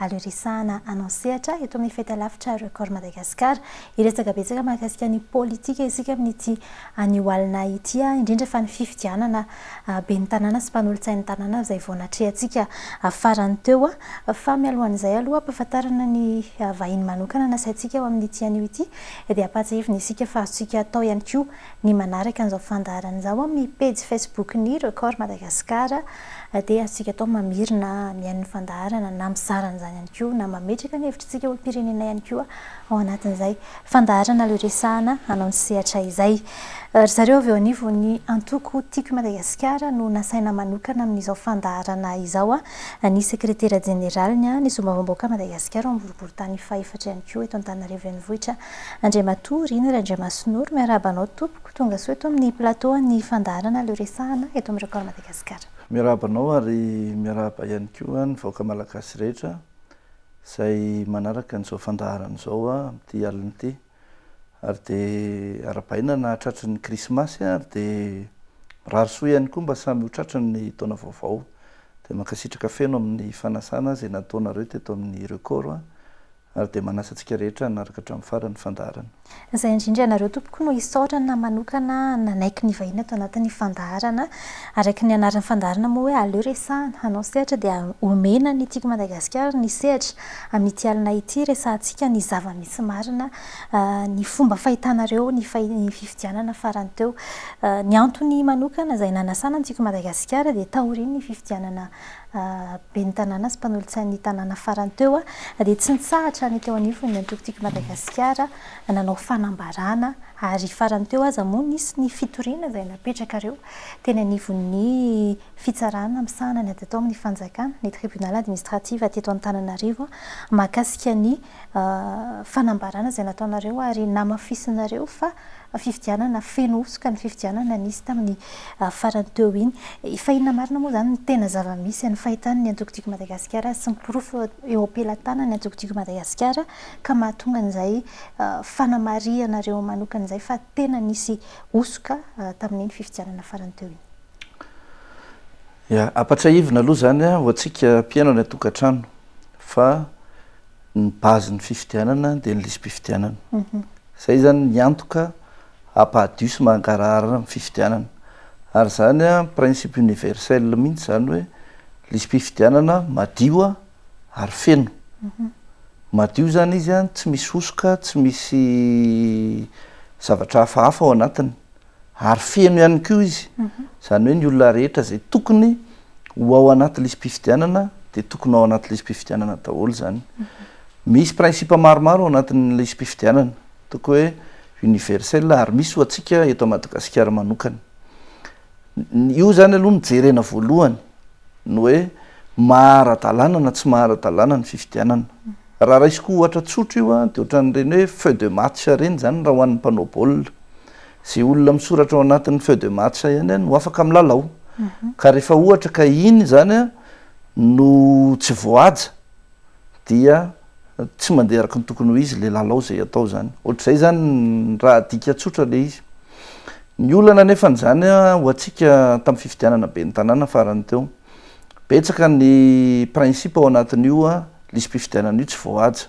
ary horesahana anao sehatra eto amin'ny Fahitalavitra Record Madagascar. Hiresaka betsaka mahakasika ny politika isika amin'ity anio alina ity, indrindra fa ny fifidianana ben'ny tanàna sy mpanolotsain'ny tanàna izay vao natrehantsika farany teo. Fa mialohan'izay aloha ampahafantarana ny vahiny manokana nasaintsika ho amin'ity anio ity dia ampahatsiahivina isika fa azontsika atao ihany koa Ny manaraka an'izao fandaharana izao amin'ny pejy Facebook-n'ny Record Madagascar dia azontsika atao mamerina mihaino ny fandaharana na mizara an'izany ihany koa na mametraka ny hevitr'isika olom-pirenena ihany koa ao anatin'izay fandaharana leo resahana hanao ny sehatra izay. Ry zareo avy eo anivon'ny antoko Tiako i Madagasikara no nasaina manokana amin'izao fandaharana izao ny sekretera jeneraliny ny Solombavambahoakan'i Madagasikara ao amin'ny boriborintany fahaefatra ihany koa eto Antananarivo Renivohitra Andriamatoa Rina Randriamasinoro, miarahaba anao tompoko, tonga soa eto amin'ny plateau an'ny fandaharana Aleo Resahana eto amin'ny Record Madagasikara. Miarahaba anao ary miarahaba ihany koa ny vahoaka malagasy rehetra izay manaraka an'izao fandaharana izao amin'ity alina ity. Ary dia arahabaina na tratry ny krismasy ary dia mirary soa ihany koa mba samy ho tratry ny taona vaovao. Dia mankasitraka feno amin'ny fanasana izay nataonareo teto amin'ny Record. Ary dia manasa antsika rehetra hanaraka hatramin'ny farany ny fandaharana. Izay indrindra ianareo tompoko no isaorana manokana nanaiky ny vahiny ato anatin'ny fandaharana. Araka ny anaran'ny fandaharana moa hoe aleo resahana, hanao sehatra dia omena ny Tiako Madagasikara ny sehatra. Amin'ity alina ity resahantsika ny zava-misy marina, ny fomba fahitanareo ny fifidianana farany teo. Ny antony manokana izay nanasana ny Tiako Madagasikara dia taorian'ny fifidianana ben'ny tanàna sy mpanolotsain'ny tanàna farany teo dia tsy nitsahatra ny teo anivon'ny antoko Tiako Madagasikara nanao fanambarana ary farany teo aza moa nisy ny fitoriana izay napetrakareo teny anivon'ny fitsarana misahana ny ady atao amin'ny fanjakana, ny tribunal administratif teto Antananarivo, mahakasika ny. fanambarana izay nataonareo ary namafisinareo fa fifidianana feno hosoka ny fifidianana nisy tamin'ny farany teo iny. Efa inona marina moa izany ny tena zava-misy amin'ny fahitan'ny Antoko Tiako Madagasikara sy ny porofo eo am-pelatanan'ny Antoko Tiako Madagasikara ka mahatonga an'izay fanamarihanareo manokana izay fa tena nisy hosoka tamin'iny fifidianana farany teo iny? Ya, ampatsiahivina aloha izany ho antsika mpiaina any an-tokantrano fa. ny base ny fifidianana dia ny lisi-pifidianana. Izay zany ny antoka hampahadio sy mangarahara ny fifidianana. Ary zany principe universel mihintsy zany hoe lisi-pifidianana madio ary feno. Madio zany izy tsy misy hosoka, tsy misy zavatra hafahafa ao anatiny. ary feno ihany koa izy, izany hoe ny olona rehetra izay tokony ho ao anaty lisi-pifidianana dia tokony ao anaty lisi-pifidianana daholo izany. Misy principe maromaro ao anatin'ny lisi-pifidianana, ataoko hoe universel ary misy ho antsika eto Madagasikara manokana. Io izany aloha no jerena voalohany, ny hoe maha ara-dalàna na tsy maha ara-dalàna ny fifidianana. Raha raisiko ohatra tsotra io dia ohatran'ireny hoe feux de match ireny izany raha ho an'ny mpanao baolina. Ze olona misoratra ao anatin'ny feuille de match ihany an no afaka milalao. Ka rehefa ohatra ka iny zany an no tsy voahaja dia tsy mandeha araka ny tokony ho izy le lalao ze atao zany. Ohatr'izay zany ny raha adika tsotra le izy. Ny olana nefany zany an ho antsika tamin'ny fifidianana ben'ny tanàna farany teo. Betsaka ny principe ao anatin'io lisi-pifidianana io tsy voahaja.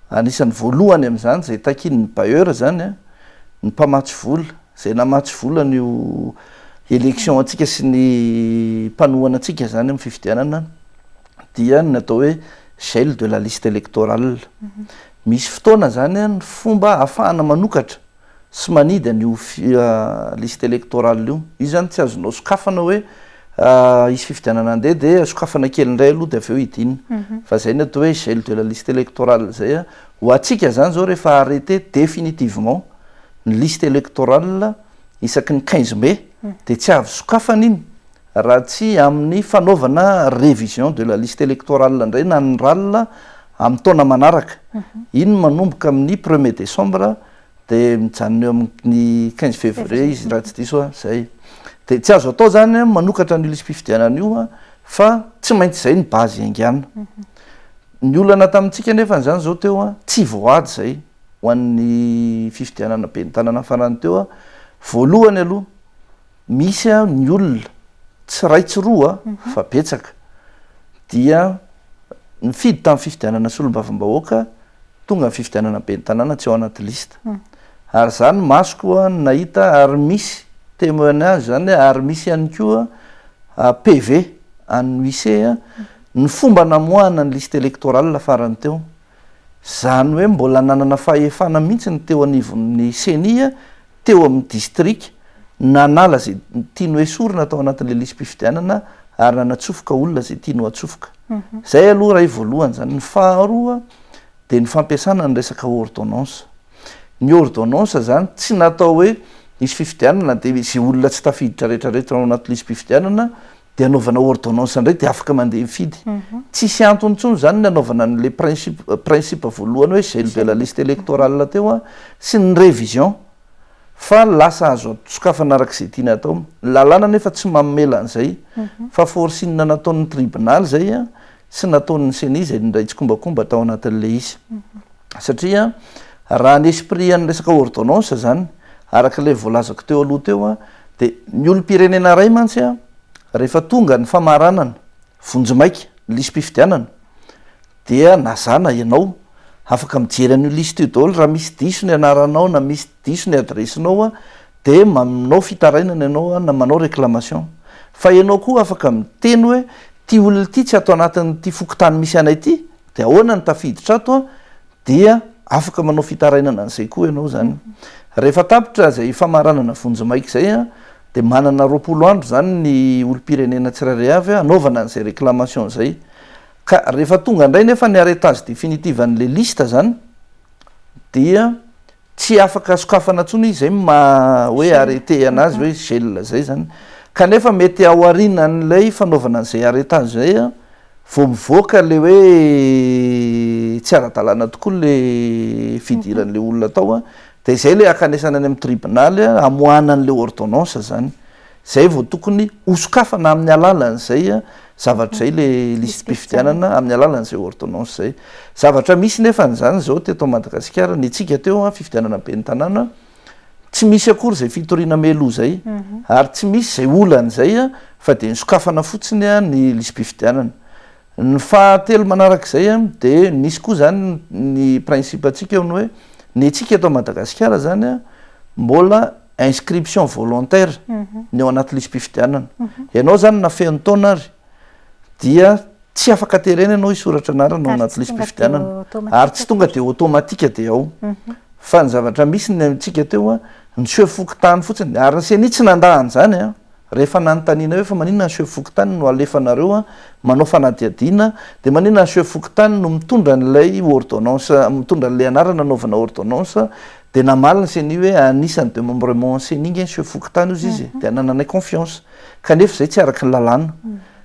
Anisan'ny voalohany amin'izany izay takian'ny bailleur izany ny mpamatsy vola, izay namatsy vola an'io élection antsika sy ny mpanohana antsika izany amin'ny fifidianana dia ny atao hoe gel de la liste électorale. Misy fotoana izany ny fomba ahafahana manokatra. sy manidy an io liste electoral io. Io zany tsy azonao sokafana hoe hisy fifidianana andeha dia sokafana kely indray aloha dia avy eo hidinina. Fa zay ny atao hoe gel de la liste electorale zay an. Ho antsika zany zao rehefa arreter définitivement ny liste electorale isaky ny quinze mai dia tsy avy sokafana iny Raha tsy amin'ny fanaovana révision de la liste électorale indray na ny ral amin'ny taona manaraka, iny manomboka amin'ny premier décembre dia mijanona eo amin'ny quinze février izy raha tsy diso aho izay. Dia tsy azo atao izany manokatra an'io lisi-pifidianana io fa tsy maintsy izay ny base iaingana. Ny olana tamintsika anefa izany izao teo, tsy voaady izay ho an'ny fifidianana ben'ny tanàna farany teo, voalohany aloha Misy ny olona, tsy iray tsy roa fa betsaka, dia nifidy tamin'ny fifidianana solombavambahoaka tonga amin'ny fifidianana ben'ny tanàna tsy ao anaty liste. Ary izaho ny masoko no nahita ary misy temoignage izany hoe ary misy ihany koa PV an'ny huice ny fomba namoahana ny liste électorale farany teo. Izany hoe mbola nanana fahefana mihitsy ny teo anivon'ny ceni teo amin'ny distrika, nanala izay tiany ho esorina tao anatin'ilay lisi-pifidianana ary nanatsofoka olona izay tiany ho atsofoka. Izay aloha iray voalohany izany. Ny faharoa dia ny fampiasana ny resaka ordonnance. Ny ordonnance izany tsy natao hoe hisy fifidianana dia izay olona tsy tafiditra rehetra rehetra ao anaty lisi-pifidianana dia anaovana ordonnance indray dia afaka mandeha hifidy. Tsy hisy antony intsony izany ny anaovana an'ilay principe principe voalohany hoe gel de la liste électorale teo sy ny révision fa lasa azo sokafana araka izay tiana atao. Ny lalàna anefa tsy mamela an'izay fa forcing nataon'ny tribunal izay Tsy nataon'ny ceni izay nindray tsikombakomba tao anatin'ny leice satria raha ny esprit an'ny resaka ordonnance izany araka ilay voalazako teo aloha teo dia ny olom-pirenena iray mantsy rehefa tonga ny famaranana vonjimaika ny lisi-pifidianana dia nazana ianao afaka mijery an'io liste io daholo raha misy diso ny anaranao na misy diso ny adresse-nao de manao fitarainana ianao na manao reclamation fa ianao koa afaka miteny hoe ity olona ity tsy ato anatin'ity fokontany misy anay ity de ahoana ny tafiditra ato an dia afaka manao fitarainana an'izay koa ianao zany rehefa tapitra izay famaranana vonjimaika izay an de manana roapolo andro zany ny olom-pirenena tsirairay avy hanaovana an'izay reclamation izay ka rehefa tonga indray nefa ny arretage définitive an'le liste zany dia Tsy afaka sokafana intsony izy zay maha hoe arrêté anazy hoe gel zay zany. Kanefa mety ao arinan'ilay fanaovana an'izay arrêtage zay vao mivoaka le hoe tsy ara-dalàna tokoa le fidiran'le olona tao dia izay le akanesana any amin'ny tribonaly hamoahana an'le ordonnance zany. Izay vao tokony hosokafana amin'ny alalan'izay zavatra izay ilay lisi-pifidianana, amin'ny alalan'izay ordonnance izay. Zavatra misy nefa an'izany izao teto Madagasikara, ny antsika teo, fifidianana ben'ny tanàna, tsy misy akory izay fitoriana meloa izay, ary tsy misy izay olan'izay fa dia ny sokafana fotsiny ny lisi-pifidianana. Ny faha telo manarak'izay an dia misy koa izany ny principe antsika eo ny hoe ny antsika eto Madagasikara izany an mbola inscription volontaire ny ao anaty lisi-pifidianana. Ianao izany na feno taona ary dia tsy afaka terena ianao hisoratra anarana ao anaty lisi-pifidianana ary tsy tonga dia automatique dia ao fa ny zavatra misy ny antsika teo an niseho fokontany fotsiny ary ny ceni tsy nandà an'izany an. Rehefa nanontaniana hoe fa maninona ny chef fokontany no alefanareo manao fanadihadiana dia maninona ny chef fokontany no mitondra an'ilay ordonnance mitondra an'ilay anarana anaovana ordonnance dia namaly ny ceni hoe anisan'ny demembrement ceni nge ny chef fokontany hozy izy dia anananay confiance kanefa izay tsy araka ny lalàna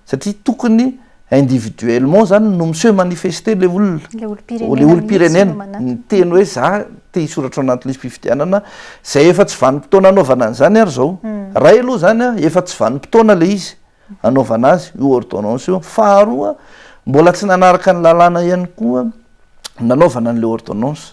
satria tokony individuellement zany no miseho manifester le olona le olom-pirenena miteny hoe za te hisoratra ao anaty lisi-pifidianana zay efa tsy vanim-potoana anaovana an'izany ary zao ray aloha zany a efa tsy vanim-potoana le izy anaovana azy io ordonnance io faharoa mbola tsy nanaraka ny lalàna ihany koa nanaovana an'le ordonnance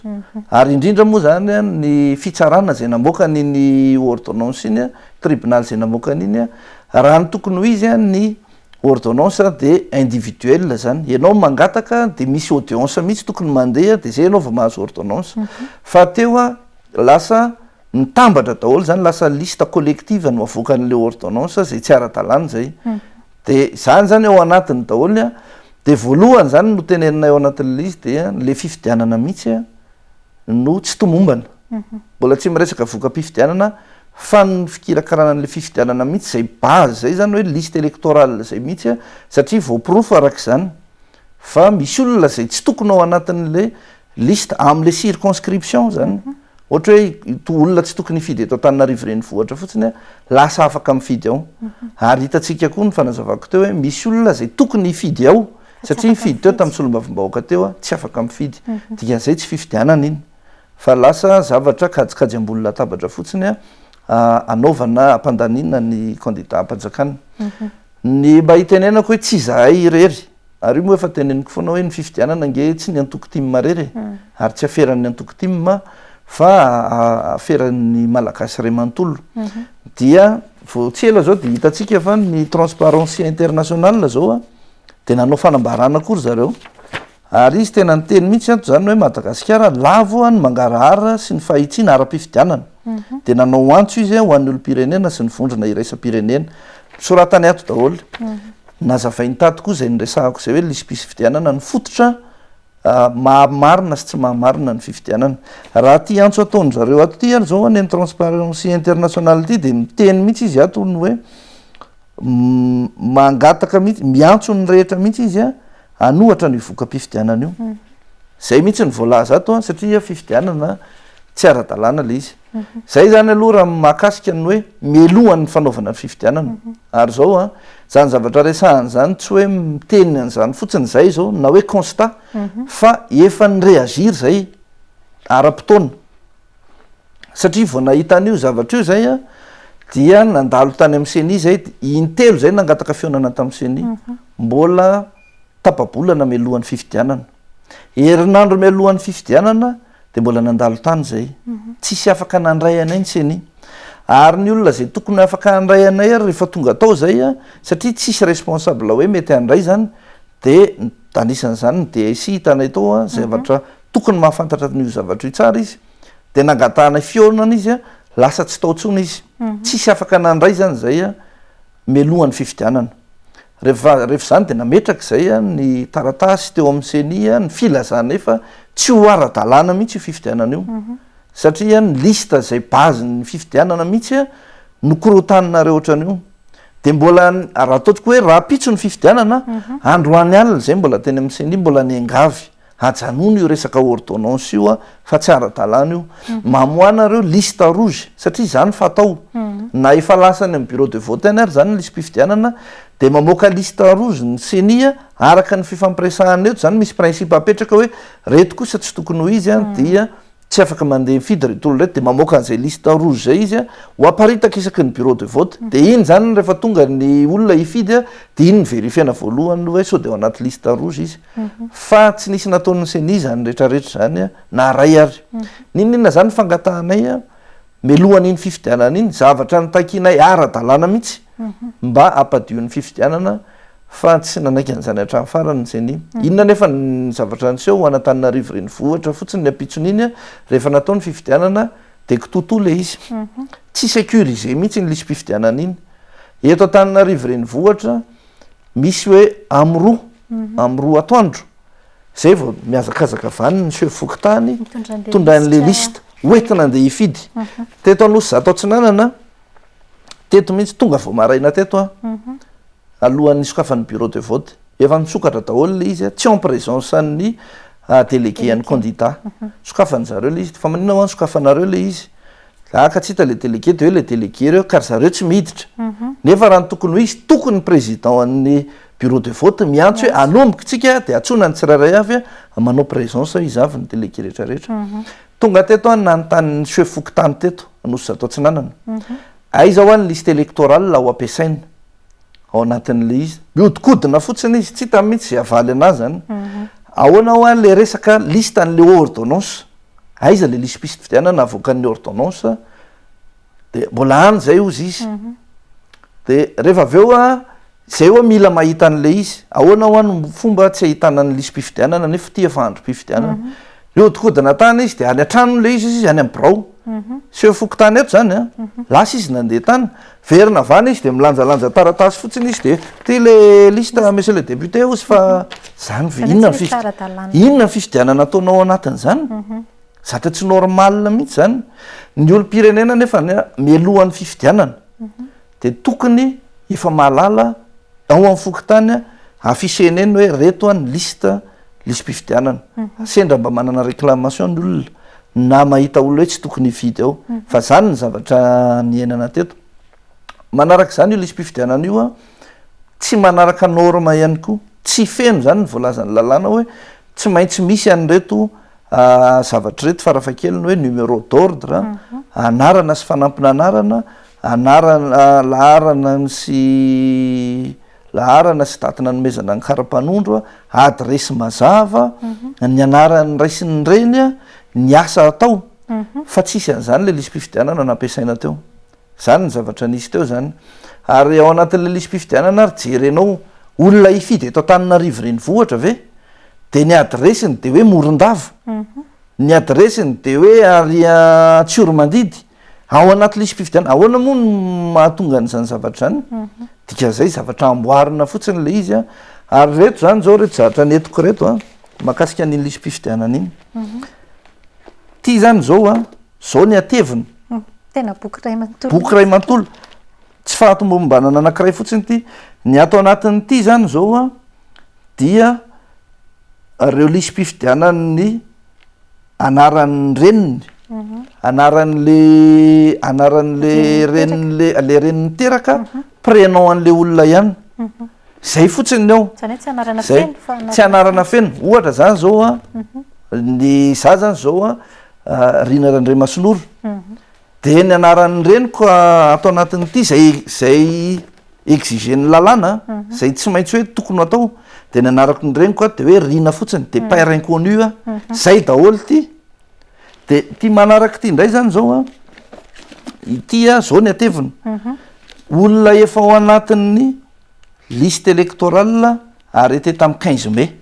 ary indrindra moa zany a ny fitsarana zay namoaka an'iny ordonnance iny a tribunal zay namoaka an'iny a raha ny tokony ho izy a ny Ordonnance dia individuelle zany, ianao mangataka dia misy audience mihitsy tokony mandeha dia zay ianao vao mahazo ordonnance, fa teo a lasa mitambatra daholo zany lasa liste collective no avoakan'ilay ordonnance zay tsy ara-dalàna zay, dia zany zany ao anatiny daholo a, dia voalohany zany no teneninay ao anatin'ilay izy dia le fifidianana mihitsy a, no tsy tomombana. Mbola tsy miresaka voka-pifidianana fa ny fikirakarana an'ilay fifidianana mihitsy izay base, izay izany hoe liste électorale izay mihitsy satria voaporofo araka izany fa misy olona izay tsy tokony ao anatin'ilay liste amin'ilay circonscription izany. Ohatra hoe ito olona tsy tokony hifidy eto Antananarivo renivohitra fotsiny lasa afaka mifidy ao. Ary hitantsika koa ny fanazavako teo hoe misy olona izay tokony hifidy ao. Satria nifidy teo tamin'ny solombavambahoaka teo aho, tsy afaka mifidy. Dikan'izay tsy fifidianana iny, fa lasa zavatra kajikajy ambony latabatra fotsiny hanaovana, hampandaniana ny kandida am-panjakana. Ny mba hitenenako hoe tsy izahay irery, ary io moa efa teneniko foana hoe ny fifidianana ange tsy ny antoko tim irery e, ary tsy aferan'ny antoko tim fa aferan'ny Malagasy iray manontolo. Dia vao tsy ela izao dia hitantsika fa ny Transparency International izao, de nanao fanambarana koa ry zareo ary izy tena niteny mihitsy ato zany hoe Madagasikara lavo ny mangarahara sy ny fahitsiana ara-pifidianana mhm. de nanao antso izy ho an'ny olom-pirenena sy ny vondrona iraisam-pirenena soratany ato daholo mhm. nazavainy tato koa zay nyresahako zay hoe lisipisy fifidianana ny fototra ah, mahamarina sy tsy mahamarina ny fifidianana raha ty antso ataony zareo ato ty ary zao any ny transparency international ty de miteny mihitsy izy ato ny hoe mangataka mihitsy, miantso ny rehetra mihitsy izy a, hanohatra an'io voka-pifidianana io. Izay mihitsy no voalaza ato a, satria fifidianana tsy ara-dalàna ilay izy. Izay izany aloha raha ny mahakasika ny hoe mialohan'ny fanaovana ny fifidianana. Ary izao a, izany zavatra resahana izany tsy hoe miteny an'izany fotsiny izahay izao na hoe constat fa efa ni-réagir izay ara-potoana. satria vao nahita an'io zavatra io zay a dia nandalo tany amin'ny ceni zay intelo zay nangataka fihaonana tamin'ny ceni mbola tapa-bolana mialohan'ny fifidianana herinandro mialohan'ny fifidianana dia mbola nandalo tany zay tsisy afaka nandray anay ny ceni ary ny olona zay tokony afaka handray anay ary rehefa tonga atao zay a satria tsisy responsable hoe mety handray zany dia anisan'izany ny DSI hitanay tao a zavatra tokony mahafantatra an'io zavatra io tsara izy, dia nangatahanay fihaonana izy, lasa tsy tao intsony izy, tsisy afaka nandray izany izay mialohan'ny fifidianana. Rehefa rehefa izany dia nametraka izay ny taratasy teo amin'ny ceni ny filazanay fa tsy ho ara-dalàna mihitsy io fifidianana io, satria ny liste izay base-n'ny fifidianana mihitsy no korotaninareo ohatran'io. Dia mbola raha ataontsika hoe rahampitso ny fifidianana, androany alina izay mbola teny amin'ny ceni mbola niangavy Ajanony io resaka ordonnance io fa tsy ara-dalàna io. Mamoahana ireo liste rouge satria izany fatao. Na efa lasa any amin'ny bureau de vote any ary izany ny lisi-pifidianana dia mamoaka liste rouge ny ceni araka ny fifampiresahana eto. Izany misy principe apetraka hoe reto kosa tsy tokony ho izy dia Tsy afaka mandeha mifidy ry Tolo ireto dia mamoaka an'izay liste rouge izay izy a, ho aparitaka isaky ny bureau de vote, dia iny izany rehefa tonga ny olona hifidy a, dia iny no verifiena voalohany hoe sao dia ao anaty liste rouge izy, fa tsy nisy nataon'ny ceni izany rehetra rehetra izany a, na iray ary. N'inon'inona izany ny fangatahanay a, mialohan'iny fifidianana iny, zavatra notakianay ara-dalàna mihitsy mba hampadion'ny fifidianana Fa tsy nanaiky an'izany hatramin'ny farany ny ceni. Inona anefa ny zavatra niseho ho an'Antananarivo Renivohitra fotsiny ny ampitson'iny, rehefa natao ny fifidianana dia kitoatoa ilay izy. Tsy securisé mihitsy iny lisi-pifidianana iny. Eto Antananarivo Renivohitra misy hoe amin'ny roa, amin'ny roa atoandro, izay vao mihazakazaka vaniny ny seho fokontany, tondrain'ilay liste, hoentina andeha hifidy. Teto Anosizato Atsinanana. Teto mihitsy, tonga vao maraina teto aho, alohan'ny nisokafan'ny bureau de vote. Efa nisokatra daholo ilay izy, tsy en présence an'ny délégué an'ny candidat. Sokafan'ny zareo ilay izy. Fa maninona ho'a ny sokafanareo ilay izy? Aah ka tsy hita ilay délégué, dia hoe ilay délégué ireo, ka ry zareo tsy miditra. Nefa raha ny tokony ho izy, tokony ny président an'ny bureau de vote miantso hoe anomboka isika dia antsoina ny tsirairay avy, manao présence izy avy ny délégué rehetra rehetra. Tonga teto aho nanontany ny Sefo fokontany teto Anosizato Atsinanana, aiza hoa ny liste électorale ho ampiasaina ao anatin'ilay izy. Mihodinkodina fotsiny izy, tsy hitany mihitsy izay havaly an'ahy izany. Ahoana hoa ilay resaka liste an'ilay ordonnance? Aiza ilay liste-pisy fifidianana avoakan'ny ordonnance? dia mbola any izay ozy izy dia rehefa avy eo an izay oa mila mahita an'la izy ahoana hoa no fomba tsy ahitana ny lisi-pifidianana nefa ity efa androm-pifidianana mihodinkodina tany izy dia any an-tranony ilay izy izy any amin'ny birao seho fokontany eto izany an lasa izy nandeha tany verina avy any izy dia milanjalanja taratasy fotsiny izy dia ity le liste monsieur le député ozy fa izany ve inona ny fifidianana inona ny fifidianana ataonao ao anatin'izany Zatra tsy normal mihitsy zany. Ny olom-pirenena nefa mialohan'ny fifidianana dia tokony efa mahalala ao amin'ny fokontany afficher-ny eny hoe reto ny liste lisi-pifidianana. Sendra mba manana réclamation ny olona na mahita olona hoe tsy tokony hifidy ao. Fa zany ny zavatra niainana teto. Manaraka izany io lisi-pifidianana io tsy manaraka norme ihany koa. Tsy feno izany ny voalazan'ny lalàna hoe tsy maintsy misy an'ireto. zavatra ireto farafahakeliny hoe numéro d'ordre, anarana sy fanampin'anarana, anarana, laharana sy laharana sy daty nanomezana ny kara-panondro, adiresy mazava, ny anaran'ny ray sy ny reny, ny asa atao, fa tsy hisy an'izany ilay lisi-pifidianana nampiasaina teo. Izany ny zavatra nisy teo izany. Ary ao anatin'ilay lisi-pifidianana ary jerenao olona hifidy eto Antananarivo renivohitra ve dia ny adiresiny dia hoe Morondava, ny adiresiny dia hoe ary Antsiromandidy ao anaty lisi-pifidianana. Ahoana moa no mahatonga an'izany zavatra izany? Dikan'izay zavatra amboarina fotsiny ilay izy an! Ary ireto izany izao ireto zavatra nentiko ireto an! Mahakasika an'iny lisi-pifidianana iny. Ity izany izao an! Zao ny hateviny. Tena boky iray manontolo. Boky iray manontolo. Tsy fahatombombanana anankiray fotsiny ity. Ny ato anatin'ity izany izao a, dia ireo lisi-pifidianan'ny anaran'ny reniny, anaran'le anaran'le reniny le le reniny niteraka, prénom an'le olona ihany. Zay fotsiny ny ao. Zany hoe tsy anarana feno fa anarana. Tsy anarana feno. Ohatra zany zao a, ny za zany zao a. Rina Randriamasinoro, dia ny anaran'ny reniko ato anatin'ity izay izay exigen'ny lalàna, izay tsy maintsy hoe tokony ho atao, dia ny anarako ny reniko ato dia hoe Rina fotsiny, dia père inconnu aho, izay daholo ity. Dia ity manaraka ity indray izany izao an, ity an, izao ny hateviny, olona efa ao anatin'ny. liste électorale arrêtée tamin'ny quinze mai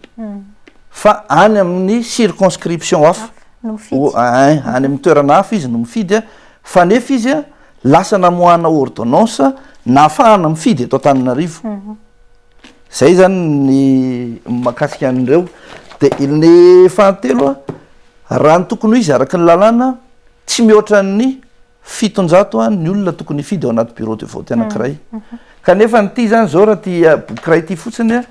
fa any amin'ny circonscription hafa No mifidy. O- a- ein, any amin'ny toerana hafa izy no mifidy a, fa nefa izy a, lasa namoahana ordonnance nahafahana mifidy eto Antananarivo. Zay zany ny mahakasika an'ireo. De il- ny fahatelo a, raha ny tokony ho izy araka ny lalàna, tsy mihoatra ny Fitonjato an ny olona tokony hifidy ao anaty bureau de vote anankiray kanefa ny ty zany zao raha ty boky iray ty fotsiny an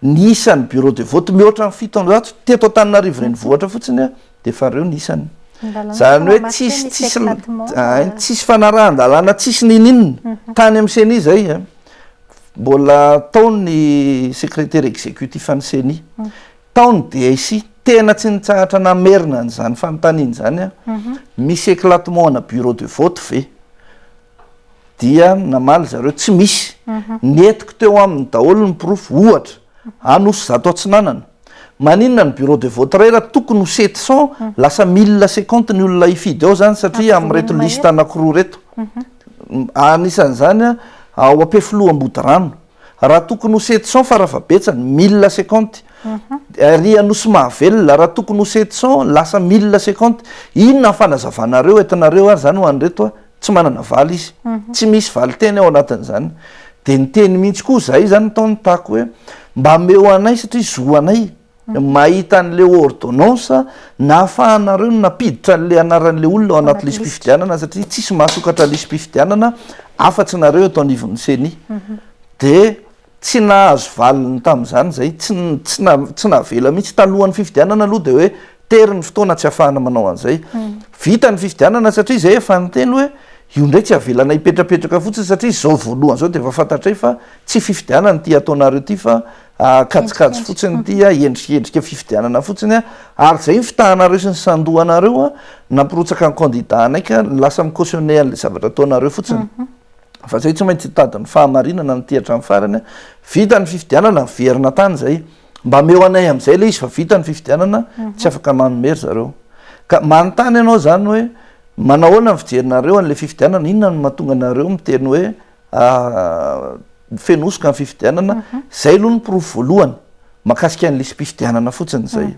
ny isan'ny bureau de vote mihoatra ny fitonjato teto Antananarivo renivohitra fotsiny an dia efa reo ny isany zany hoe tsisy tsisy hay tsisy fanarahan-dalàna tsisy n'ininona tany amin'ny ceni zay an mbola tao ny secretaire executif an'ny ceni Tao ny DIC, tena tsy nitsahatra namerina an'izany fanontaniana izany aho. Misy éclatement ana bureau de vote ve? Dia namaly zareo, tsy misy. Nentiko teo aminy daholo ny porofo, ohatra, Anosy zato Atsinanana. Maninona ny bureau de vote iray raha tokony ho sept cent, lasa mille cinquante ny olona hifidy ao izany satria amin'ireto liste anankiroa ireto. Anisan'izany ao Ampefiloha Ambodirano. raha tokony ho sept cents fara fahabetsany, mille seconte, ery Anosimahavelona, raha tokony ho sept cents, lasa mille seconte, inona ny fanazavanareo entinareo ary izany ho an'ireto a? tsy manana valy izy, tsy misy valin-teny ao anatin'izany, dia niteny mihitsy koa izahay izany tao nitako hoe mba ameo anay satria zo anay, mahita an'ilay ordonnance nahafahanareo nampiditra an'ilay anaran'ilay olona ao anaty lisi-pifidianana satria tsisy mahasokatra lisi-pifidianana afa-tsy nareo eto anivon'ny ceni mhm. dia tsy nahazo valiny tamin'izany izay tsy navela mihitsy talohan'ny fifidianana aloha dia hoe tery ny fotoana tsy hahafahana manao an'izay hmm. vita ny fifidianana satria izay efa nyteny hoe io indray tsy avelana hipetrapetraka fotsiny satria izao voalohany izao dia efa fantatray fa tsy fifidianana ity ataonareo ity fa kajikajy fotsiny ity a, endrikendrika fifidianana fotsiny a, ary izay ny fitahanareo sy ny sandohanareo a, nampirotsaka ny candidat anay ka lasa mi-cautionner an'ilay zavatra ataonareo fotsiny, fa izay tsy maintsy hitady ny fahamarinana no ity hatramin'ny farany a, vita ny fifidianana miverina tany izay, mba ameo anay amin'izay ilay izy fa vita ny fifidianana tsy afaka manome ry zareo, ka manontany anao izany hoe manahoana ny fijerinareo an'ilay fifidianana, inona no mahatonga anareo miteny hoe feno hosoka ny fifidianana, izay aloha ny porofo voalohany mahakasika ny lisi-pifidianana fotsiny izay.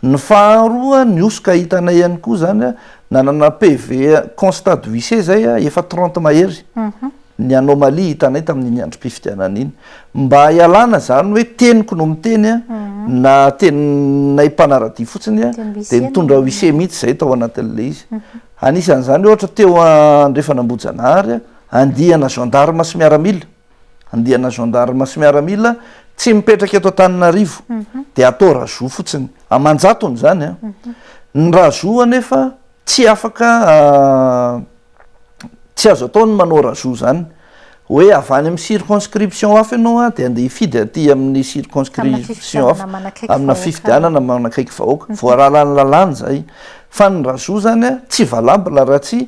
Ny faharoa, ny hosoka hitanay ihany koa izany, nanana PV, constat de huissier, izay efa trente mahery ny anomalie hitanay tamin'iny androm-pifidianana iny. Mba hialana izany hoe teniko no miteny na teninay mpanaradia fotsiny dia nitondra huissier mihitsy izahay tao anatin'ilay izy. Anisan'izany ohatra teo andrefan'Ambohijanahary. Andiana gendarmes sy miaramila, andiana gendarmes sy miaramila tsy mipetraka eto Antananarivo dia atao Rajoux fotsiny, aman-jatony izany an! Ny Rajoux anefa tsy afaka tsy azo atao ny manao Rajoux izany hoe avy any amin'ny circonscription hafa ianao an dia andeha hifidy aty amin'ny circonscription hafa, amina fifidianana manakaiky vahoaka, voararan'ny lalàna izay, fa ny Rajoux izany an tsy valable raha tsy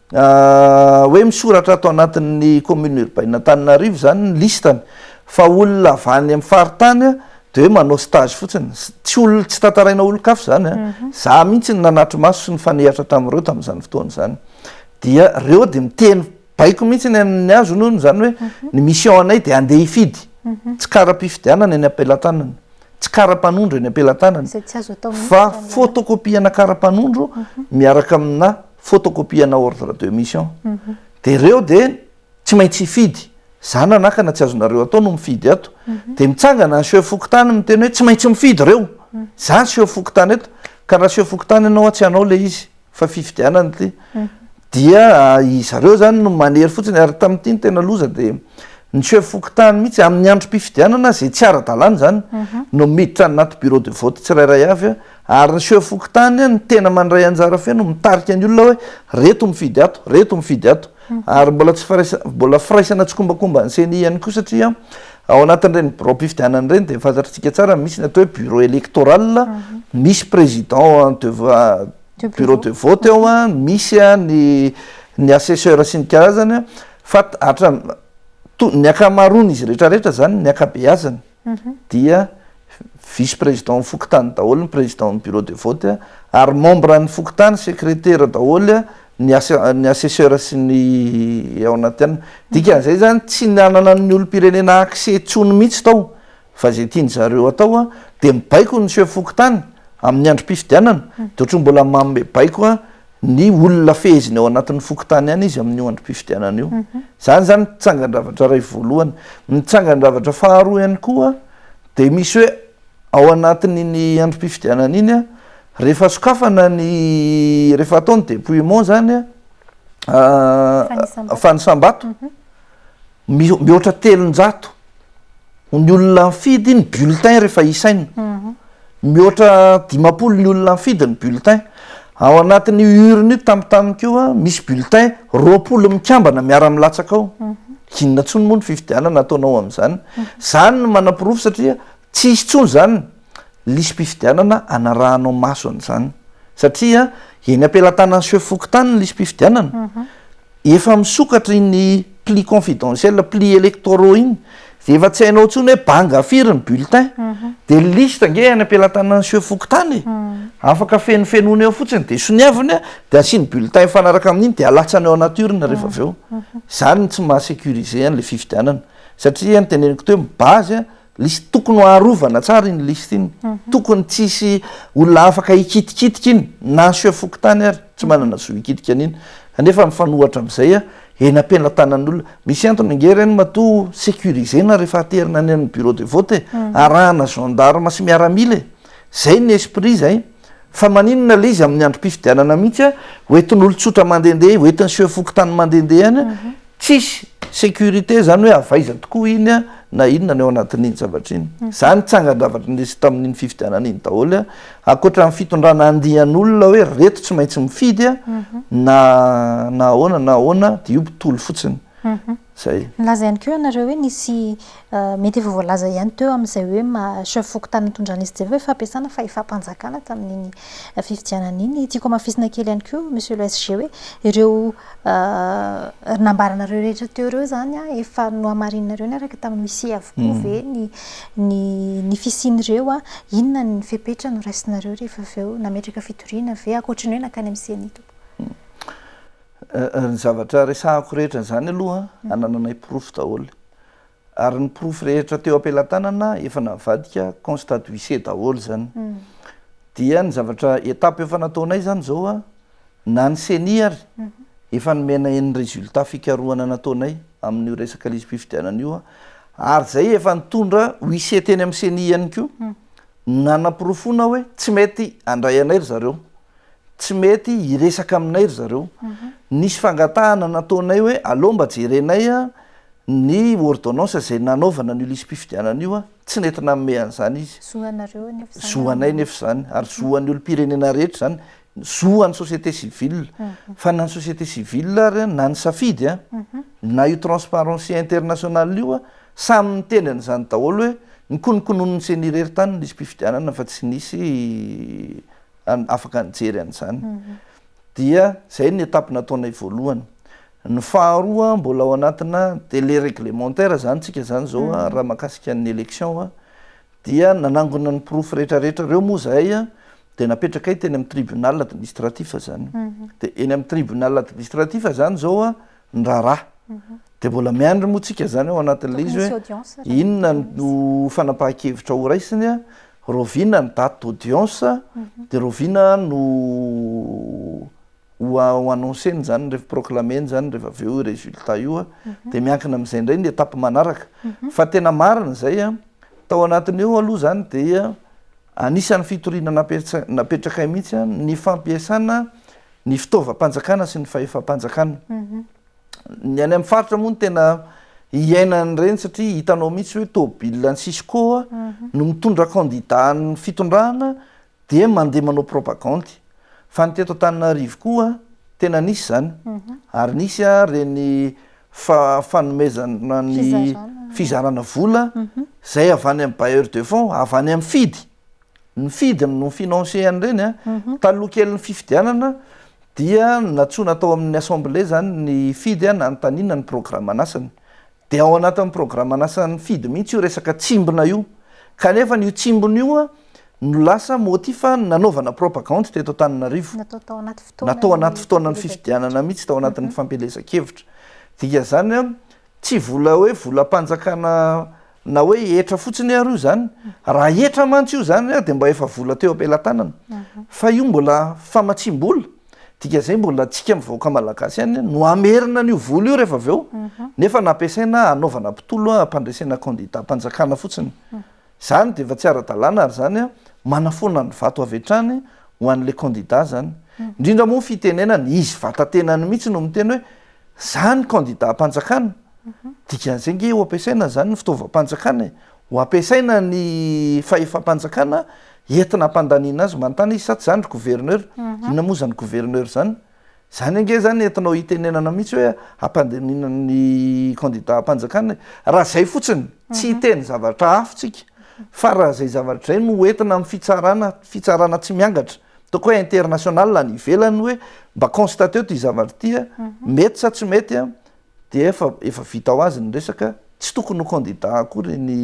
Hoe misoratra ato anatin'ny commune urbaine Antananarivo izany ny listany fa olona avy any amin'ny faritany dia hoe manao stage fotsiny. Tsy olona, tsy tantaraina olon-kafa izany an! Izaho mihitsy no nanatri-maso sy nifanehatra tamin'ireo tamin'izany fotoana izany. Dia ireo dia miteny baiko mihitsy ny an'ny azony hono izany hoe ny mission anay dia handeha hifidy. Tsy kara-pifidianana eny am-pelatanana, tsy kara-panondro eny am-pelatanana fa fotokopiana kara-panondro miaraka amina. photocopier-na ordre de mission dia ireo dia tsy maintsy hifidy, za nanakana tsy azonareo atao no mifidy ato, dia mitsangana ny sieur fokontany miteny hoe tsy maintsy mifidy ireo, za ny sieur fokontany eto ka raha sieur fokontany ianao tsy hanao ilay izy fa fifidianana ity dia izareo zany no manery fotsiny, ary tamin'ity ny tena loza dia ny sieur fokontany mihitsy amin'ny androm-pifidianana izay tsy ara-dalàna izany no miditra anaty bureau de vote tsirairay avy Ary ny seho fokontany no tena mandray anjara feno mitarika ny olona hoe reto mifidy ato, reto mifidy ato. Ary mbola tsy mbola firaisana tsikombakomba ny ceni ihany koa satria ao anatin'ireny biraom-pifidianana ireny dia fantatrtsika tsara ny misy ny atao hoe bureau electoral, misy président de bureau de vote ao, misy ny ny assesseur sy ny karazany fa hatramin'ny ny ankamaroan'izy rehetra rehetra izany ny ankabeazany. dia vice président fokontany daholo ny président ny bureau de vote ary membre ny fokontany secrétaire daholo ny ny assesseur sy ny ao anaty an dikan'izay zany tsy nanana ny olom-pirenena accès intsony mihitsy tao fa zay tiany zareo atao dia mibaiko ny chef fokontany amin'ny androm-pifidianana dia ohatry ny mbola manome baiko Ny olona feheziny ao anatin'ny fokontany ihany izy amin'io androm-pifidianana io. Izany izany no tsangan-javatra iray voalohany. Ny tsangan-javatra faharoa ihany koa dia misy hoe ao anatin'iny androm-pifidianana iny, rehefa sokafana ny, rehefa atao ny dépouillement izany, fanisam-bato, Mihoatra telonjato ny olona nifidy ny bulletin rehefa isaina. Mihoatra dimampolo ny olona nifidy ny bulletin. Ao anatin'io urne io tamin'ny tamiko io an, misy bulletin roapolo mikambana miara-milatsaka ao. Inona intsony moa ny fifidianana ataonao amin'izany? Izany no manaporofo satria Tsy hisy intsony izany lisi-pifidianana anarahanao masony izany satria eny am-pelatanan'ny sefo fokontany ny lisi-pifidianana, efa misokatra iny pli confidentiel, pli electoraux iny dia efa tsy hainao intsony hoe banga firy ny bulletin, dia ny liste ange any am-pelatanan'ny sefo fokontany e! afaka fenofenoina eo fotsiny dia soniaviny dia asiany bulletin mifanaraka amin'iny dia alatsany ao anaty urne rehefa avy eo, izany no tsy maha-securiser an'ilay fifidianana satria ny teneniko teo ny base List tokony ho arovana tsara iny list iny. Tokony tsy hisy olona afaka hikitikitika iny na asio fokontany ary tsy manana zo hikitika an'iny. Kanefa mifanohatra amin'izay eny am-pelatanan'olona. Misy antony ange ireny matoa sécurisena rehefa aterina any amin'ny bureau de vote e. Arahana gendarmes sy miaramila e. Izay ny esprit izay. Fa maninona ilay izy amin'ny androm-pifidianana mihitsy a, ho entin'olon-tsotra mandehandeha, ho entin'ny sieur fokontany mandehandeha any, tsisy sécurité izany hoe avy aiza tokoa iny a, na inona ny ao anatin'iny zavatra iny. Izany tsangan-javatra nisy tamin'iny fifidianana iny daholo a, ankoatra ny fitondrana andian'olona hoe reto tsy maintsy mifidy a, na na ahoana na ahoana, dia io tolo fotsiny. Zay. Nilaza ihany koa ianareo hoe nisy mety efa voalaza ihany teo amin'izay hoe chef fokontany nitondran'i SJV hoe fampiasana fahefam-panjakana tamin'iny fifidianana iny. Tiako hamafisina kely ihany koa Monsieur le SG hoe ireo nambaranareo rehetra teo ireo izany efa nohamarininareo niaraka tamin'ny huissier avokoa ve ny ny fisian'ireo? Inona ny fepetra noraisinareo rehefa avy eo? Nametraka fitoriana ve ankoatry ny hoe nankany amin'ny ceni? Ny zavatra resahako rehetra izany aloha anananay porofo daholo. Ary ny porofo rehetra teo am-pelatanana efa navadika constat d'huissier daholo izany. Dia ny zavatra étape efa nataonay izany izao, na ny ceni ary efa nomenay ny résultat fikarohana nataonay amin'io resaka lisi-pifidianana io. Ary izay efa nitondra huissier teny amin'ny ceni ihany koa nanaporofoana hoe tsy mety handray anay ry zareo. Tsy mety hiresaka aminay ry zareo. Nisy fangatahana nataonay hoe aleo mba jerenay ny ordonnance izay nanaovana an'io lisi-pifidianana io. Tsy nety nanome an'izany izy. Zo anareo anefa izany. Zo anay anefa izany, ary zo an'ny olom-pirenena rehetra izany. Zo an'ny société civile. Fa na ny société civile ary na ny safidy, na io Transparency International io, samy niteny an'izany daholo hoe nokononkononin'ny ceni irery tany ny lisi-pifidianana fa tsy nisy afaka nijery an'izany. Dia izay ny étape nataonay voalohany. Ny faharoa mbola ao anatina délai réglementaire izany isika izany izao raha mahakasika ny élection dia nanangona ny porofo rehetrarehetra ireo moa izahay dia napetrakay teny amin'ny tribunal administratif izany. Dia eny amin'ny tribunal administratif izany izao ny raharaha dia mbola miandry moa tsika zany ao anatin'ilay izy hoe inona no fanapahan-kevitra ho raisiny a rovina ny date d'audience mhm. dia rovina no ho annonceny zany rehefa proclameny zany rehefa avy eo résultat io a mhm. dia miankina amin'izay indray ny étape manaraka mhm. fa tena marina izay a tao anatin'ny eo aloha zany dia anisan'ny fitoriana napetrakay mihitsy a ny fampiasana ny fitaovam-panjakana sy ny fahefam-panjakana. Ny any amin'ny faritra moa no tena hiainan'ireny satria hitanao mihitsy hoe tôbila an'i Cisco no mitondra kandidà ny fitondrana dia mandeha manao propagandy. Fa ny teto Antananarivo koa tena nisy izany ary nisy ireny fanomezana ny fizarana vola izay avy any amin'ny bailleur de fonds, avy any amin'ny fidy. ny fidiny no financer an'ireny a, taloha kelin'ny fifidianana dia nantsoina tao amin'ny assemblée izany ny fidy a nanontaniana ny programan'asany, dia ao anatin'ny programan'asan'ny fidy mihitsy io resaka tsimbina io, kanefa an'io tsimbina io no lasa motif nanaovana propagandy teto Antananarivo, natao anaty fotoanan'ny fifidianana mihitsy, tao anatin'ny fampielezan-kevitra, dikan'izany a tsy vola hoe volam-panjakana. na hoe hetra fotsiny ary io zany raha hetra mantsy io zany ary dia mba efa vola teo am-pelatanana fa io mbola famatsiam-bola dika zay mbola antsika mivaoka malagasy any no amerina an'io vola io rehefa avy eo nefa nampiasaina anaovana mpitolo hampandresena kandidam-panjakana fotsiny zany dia efa tsy ara-dalàna ary zany a manafoana ny vato avy hatrany ho an'le kandida zany indrindra moa fitenenana izy vata-tenany mihitsy no miteny hoe Zany candidat am-panjakana, dikan'izay ange ho ampiasaina zany ny fitaovam-panjakana e! Ho ampiasaina ny fahefam-panjakana entina hampandaniana azy manontany izy sa tsy zany ry gouverneur? Inona moa zany gouverneur zany? Zany ange zany entinao hitenenana mihitsy hoe hampandaniana ny candidat am-panjakana e! Raha zay fotsiny, tsy hiteny zavatra hafa tsika, fa raha zay zavatra zay no entina amin'ny fitsarana, fitsarana tsy miangatra, Toko hoe international any ivelany hoe mba constateo ity zavatra ity a, mety sa tsy mety a, dia efa efa vita ho azy ny resaka, tsy tokony ho candidat akory ny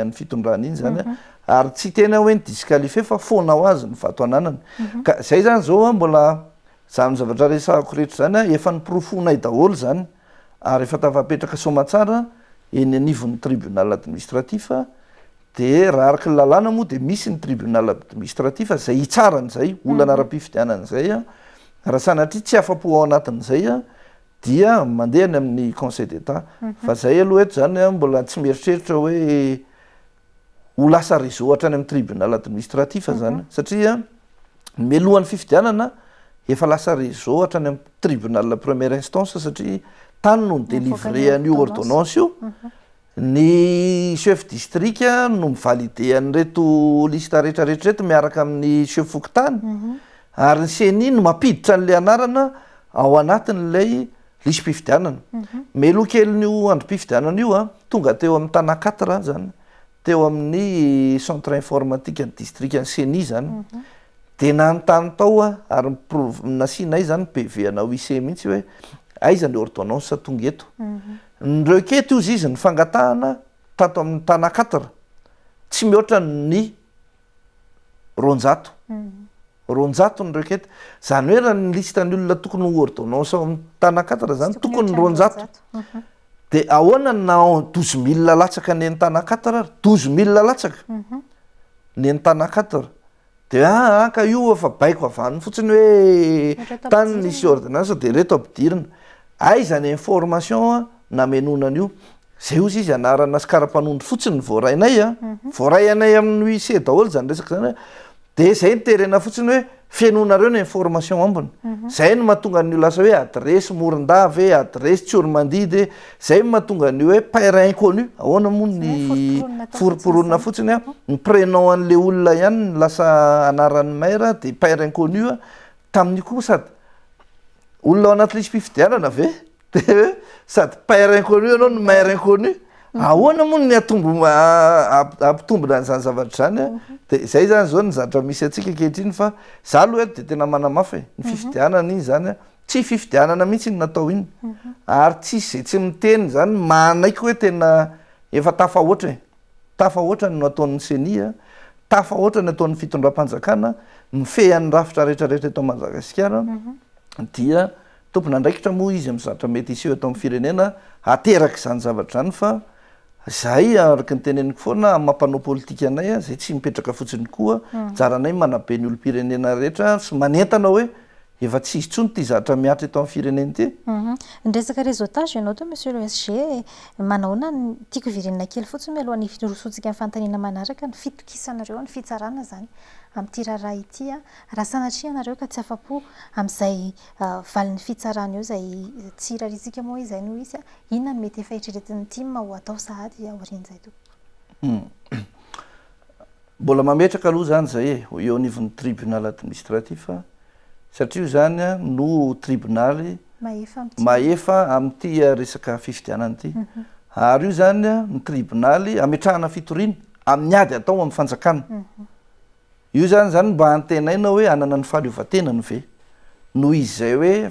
an'ny fitondrana iny zany a, ary tsy hiteny aho hoe ny disqualifier fa foana ho azy ny vato ananany, ka zay zany zao a mbola zany zavatra resahako rehetra zany a efa noporofoinay daholo zany, ary efa tafapetraka soamatsara eny anivon'ny tribunal administratif dia raha araka ny lalàna moa dia misy ny tribunal administratif izay hitsara an'izay olana ara-pifidianana izay raha sanatria tsy afa-po ao anatin'izay dia mandeha any amin'ny conseil d'état fa izay aloha eto izany mbola tsy mieritreritra hoe ho lasa réseau hatrany amin'ny tribunal administratif zany satria mialohan'ny fifidianana efa lasa réseau hatrany amin'ny tribunal première instance satria tany no mi-délivrer an'io ordonnance io, ny chef district no mi-valider an'ireto liste rehetrarehetra ireto miaraka amin'ny chef fokontany ary ny ceni no mampiditra an'ilay anarana ao anatin'ilay. Lisi-pifidianana. Melokelin'io androm-pifidianana io, tonga teo amin'ny Tana quatre izany, teo amin'ny centre informatikan'ny distrikan'ny Ceni izany, dia nanontany tao aho ary nasianay izany PV anà UIC mihitsy hoe aiza ny ordonnance tonga eto. Ni-requête hozy izy ny fangatahana tato amin'ny Tana quatre, tsy mihoatra ny roanjato roanjato ny requête zany hoe raha ny liste ny olona tokony ho ordonnance ao amin'ny Tanakatatra zany tokony ny roanjato de ahoana na douze mille latsaka ny an'ny Tanakatatra ary douze mille latsaka ny an'ny Tanakatatra de ah ah ka io efa baiko avy any fotsiny hoe tany nisy ordonnance de ireto ampidirina aiza ny information namenoana an'io. Zeus izy anarana sy kara-panondro fotsiny ny voaray anay a, voaray anay amin'ny wise daholo izany resaka izany hoe, dia izay no terena fotsiny hoe fenoinareo ny information ambiny, izay no mahatonga an'io lasa hoe adiresy Morondava e, adiresy Tsiormandidy e, izay no mahatonga an'io hoe paire inconnu, ahoana moa ny forom-poronina fotsiny a, ny prénom an'ilay olona ihany no lasa anaran'ny maire dia paire inconnu, tamin'io koa sady olona ao anaty lisi-pifidianana ve? Dia sady père inconnu ianao no mère inconnu, ahoana moa ny hatombo hampitombina an'izany zavatra izany an? Dia izay izany izao ny zatra misy antsika ankehitriny fa izaho aloha eto dia tena manamafy e, ny fifidianana iny izany an, tsy fifidianana mihitsy iny natao iny ary tsy hisy izay tsy miteny izany manaiky hoe tena efa tafahoatra e, tafahoatra ny ataon'ny ceni an, tafahoatra ny ataon'ny fitondram-panjakana mifehy an'ny rafitra rehetra rehetra eto Madagasikara dia Tompon'andraikitra moa izy amin'ny zavatra mety hiseho eto amin'ny firenena hateraka izany zavatra izany fa izahay araka ny teneniko foana amin'ny maha mpanao politika anay izay tsy mipetraka fotsiny koa anjaranay manabe ny olom-pirenena rehetra sy manentana hoe efa tsy hisy intsony ity zatra mihatra eto amin'ny firenena ity. Ny resaka réseautage ianao toa Monsieur le SG manahoana ny tiako hiverenana kely fotsiny mialoha ny hirosoantsika amin'ny fanontaniana manaraka ny fitokisanareo ny fitsarana izany amin'ity raharaha ity raha sanatria ianareo ka tsy afa-po amin'izay valin'ny fitsarana eo izay tsy irariantsika moa hoe izay no hisy. Inona no mety faheritreretin'ny tim ho atao sahady aorian'izay tompoko? Mbola mametraka aloha izany izay e, eo anivon'ny tribunal administratif satria io izany no tribunaly mahefa amin'ity resaka fifidianana ity. Ary io izany no tribunaly ametrahana fitoriana amin'ny ady atao amin'ny fanjakana. Io zany zany mba hantenaina hoe hanana ny fahaleovantenany ve? Noho izy zay hoe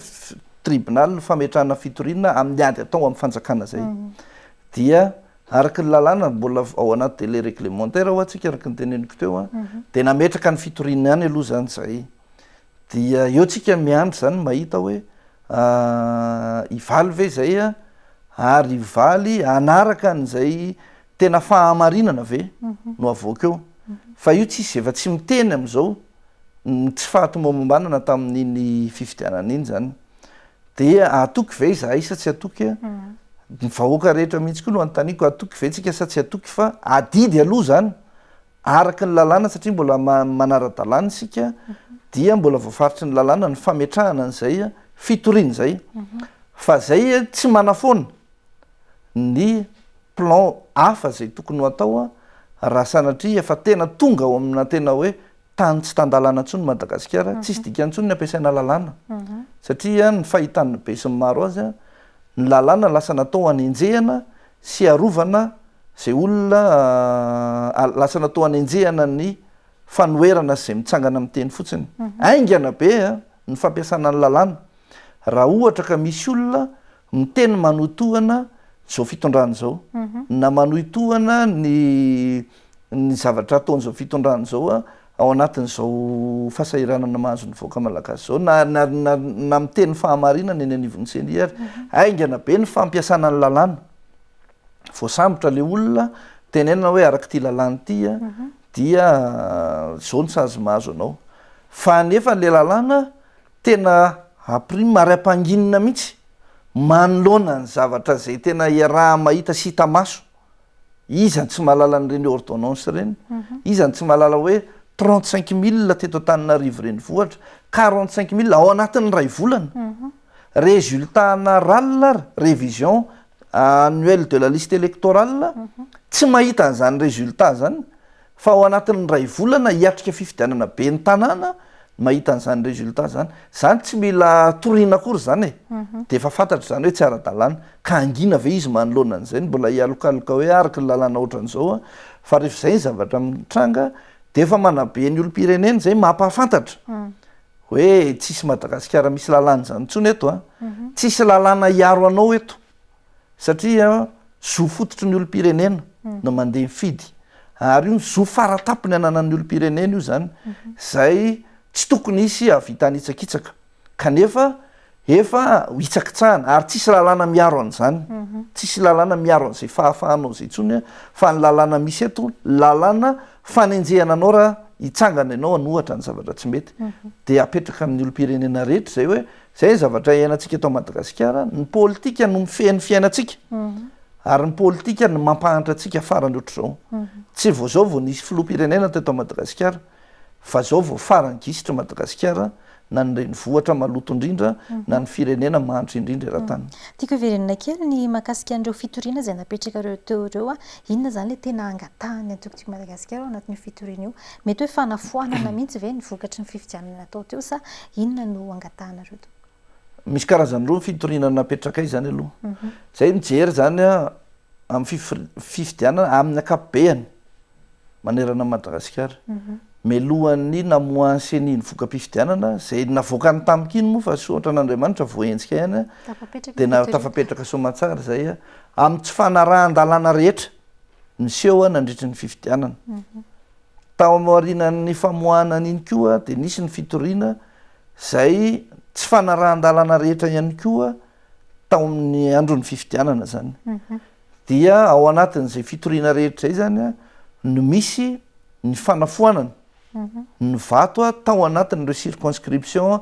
tribunal ny fametrahana fitoriana amin'ny ady atao amin'ny fanjakana zay dia araka ny lalàna mbola ao anaty délai réglementaire hoa tsika araka ny teneniko teo a dia nametraka ny fitoriana ihany aloha zany zay dia eo tsika miandry zany mahita hoe hivaly ve zay a ary hivaly hanaraka an'izay Tena fahamarinana ve no avoaka eo? Fa io tsisy efa tsy miteny amin'izao ny tsy fahatomombanana tamin'iny fifidianana iny zany dia hatoky ve izahay sa tsy hatoky? Ny vahoaka rehetra mihitsy koa no anontaniako hatoky ve tsika sa tsy hatoky fa adidy aloha zany araka ny lalàna satria mbola manara-dalàna isika dia mbola voafaritry ny lalàna ny fametrahana an'izay fitoriana izay fa izay tsy manafoana. ny plan hafa izay tokony ho atao raha sanatria efa tena tonga ao amina tena hoe tany tsy tan-dalàna intsony Madagasikara, tsisy dikany intsony ny ampiasaina lalàna satria ny fahitan'ny be sy ny maro azy ny lalàna lasa natao hanenjehana sy harovana izay olona lasa natao hanenjehana ny fanoherana sy izay mitsangana amin'ny teny fotsiny. Haingana be ny fampiasana ny lalàna raha ohatra ka misy olona Ny teny manohy tohana izao fitondrana izao na manohy tohana ny ny zavatra ataon'izao fitondrana izao ao anatin'izao fahasahiranana mahazo ny vahoaka malagasy izao na na na na miteny fahamarinana eny anivon'ny ceni ary. Haingana be ny fampiasana ny lalàna. Voasambotra ilay olona, tenenina hoe araka ity lalàna ity dia izao ny sazy mahazo anao. Fa nefa ilay lalàna Tena haprime ary hampanginina mihitsy manoloana ny zavatra izay tena iaraha-mahita sy hita maso. Iza no tsy mahalala an'ireny ordonnance ireny? Iza no tsy mahalala hoe trente cinq mille teto Antananarivo renivohitra, quarante cinq mille ao anatin'ny iray volana? Resultat-na ral ary, révision annuelle de la liste électorale, tsy mahita an'izany résultat izany Fa ao anatin'ny iray volana hiatrika fifidianana ben'ny tanàna no mahita an'izany résultat zany. Zany tsy mila toriana akory zany e! Dia efa fantatra izany hoe tsy ara-dalàna. Ka hangina ve izy manoloana an'izay no mbola hialokaloka hoe araka ny lalàna ohatran'izao an? Fa rehefa izay ny zavatra mitranga dia efa manabe ny olom-pirenena izay mampahafantatra hoe tsisy Madagasikara misy lalàna izany intsony eto an! Tsisy lalàna hiaro anao eto. satria zo fototry ny olom-pirenena no mandeha mifidy ary io zo faratampony ananan'ny olom-pirenena io zany zay tsy tokony hisy hahavitany hitsakitsaka kanefa efa hitsakitsahana ary tsisy lalàna miaro an'izany tsisy lalàna miaro an'izay fahafahanao izay intsony fa ny lalàna misy eto lalàna fanenjehana anao raha hitsangana ianao hanohatra ny zavatra tsy mety dia apetraka amin'ny olom-pirenena rehetra izay hoe Izay ny zavatra iainantsika eto Madagasikara, ny politika no mifehy ny fiainantsika ary ny politika no mampahantra antsika farany ohatr'izao. Tsy vao izao vao nisy filoham-pirenena teto Madagasikara fa izao vao farany gisitra Madagasikara na ny renivohitra maloto indrindra na ny firenena mahantra indrindra eran-tany. Tiako heverina kely ny mahakasika an'ireo fitoriana izay napetrakareo teo ireo, inona izany ilay tena angatahany antoko Tiako Madagasikara ao anatin'io fitoriana io? Mety hoe fanafoanana mihitsy ve ny vokatry ny fifidianana natao teo sa inona no angatahanareo tompoko? Misy karazany roa ny fitoriana napetrakay izany aloha. Izay mijery izany amin'ny fifidianana amin'ny ankapobeny manerana an'i Madagasikara. Mialohan'ny namoahan'ny ceni ny voka-pifidianana, izay navoakany tamiko iny moa fa soa ohatran'Andriamanitra voahenjika ihany dia tafapetraka soamantsara izay amin'ny tsy fanarahan-dalàna rehetra. niseho nandritry ny fifidianana. Tao aorianan'ny famoahana an'iny koa dia nisy ny fitoriana izay tsy fanarahan-dalana rehetra ihany koa tao amin'ny andron'ny fifidianana izany. Mhm. Dia ao anatin'izay fitoriana rehetra izay izany no misy ny fanafoanana mhm. ny vato tao anatin'ireo circonscription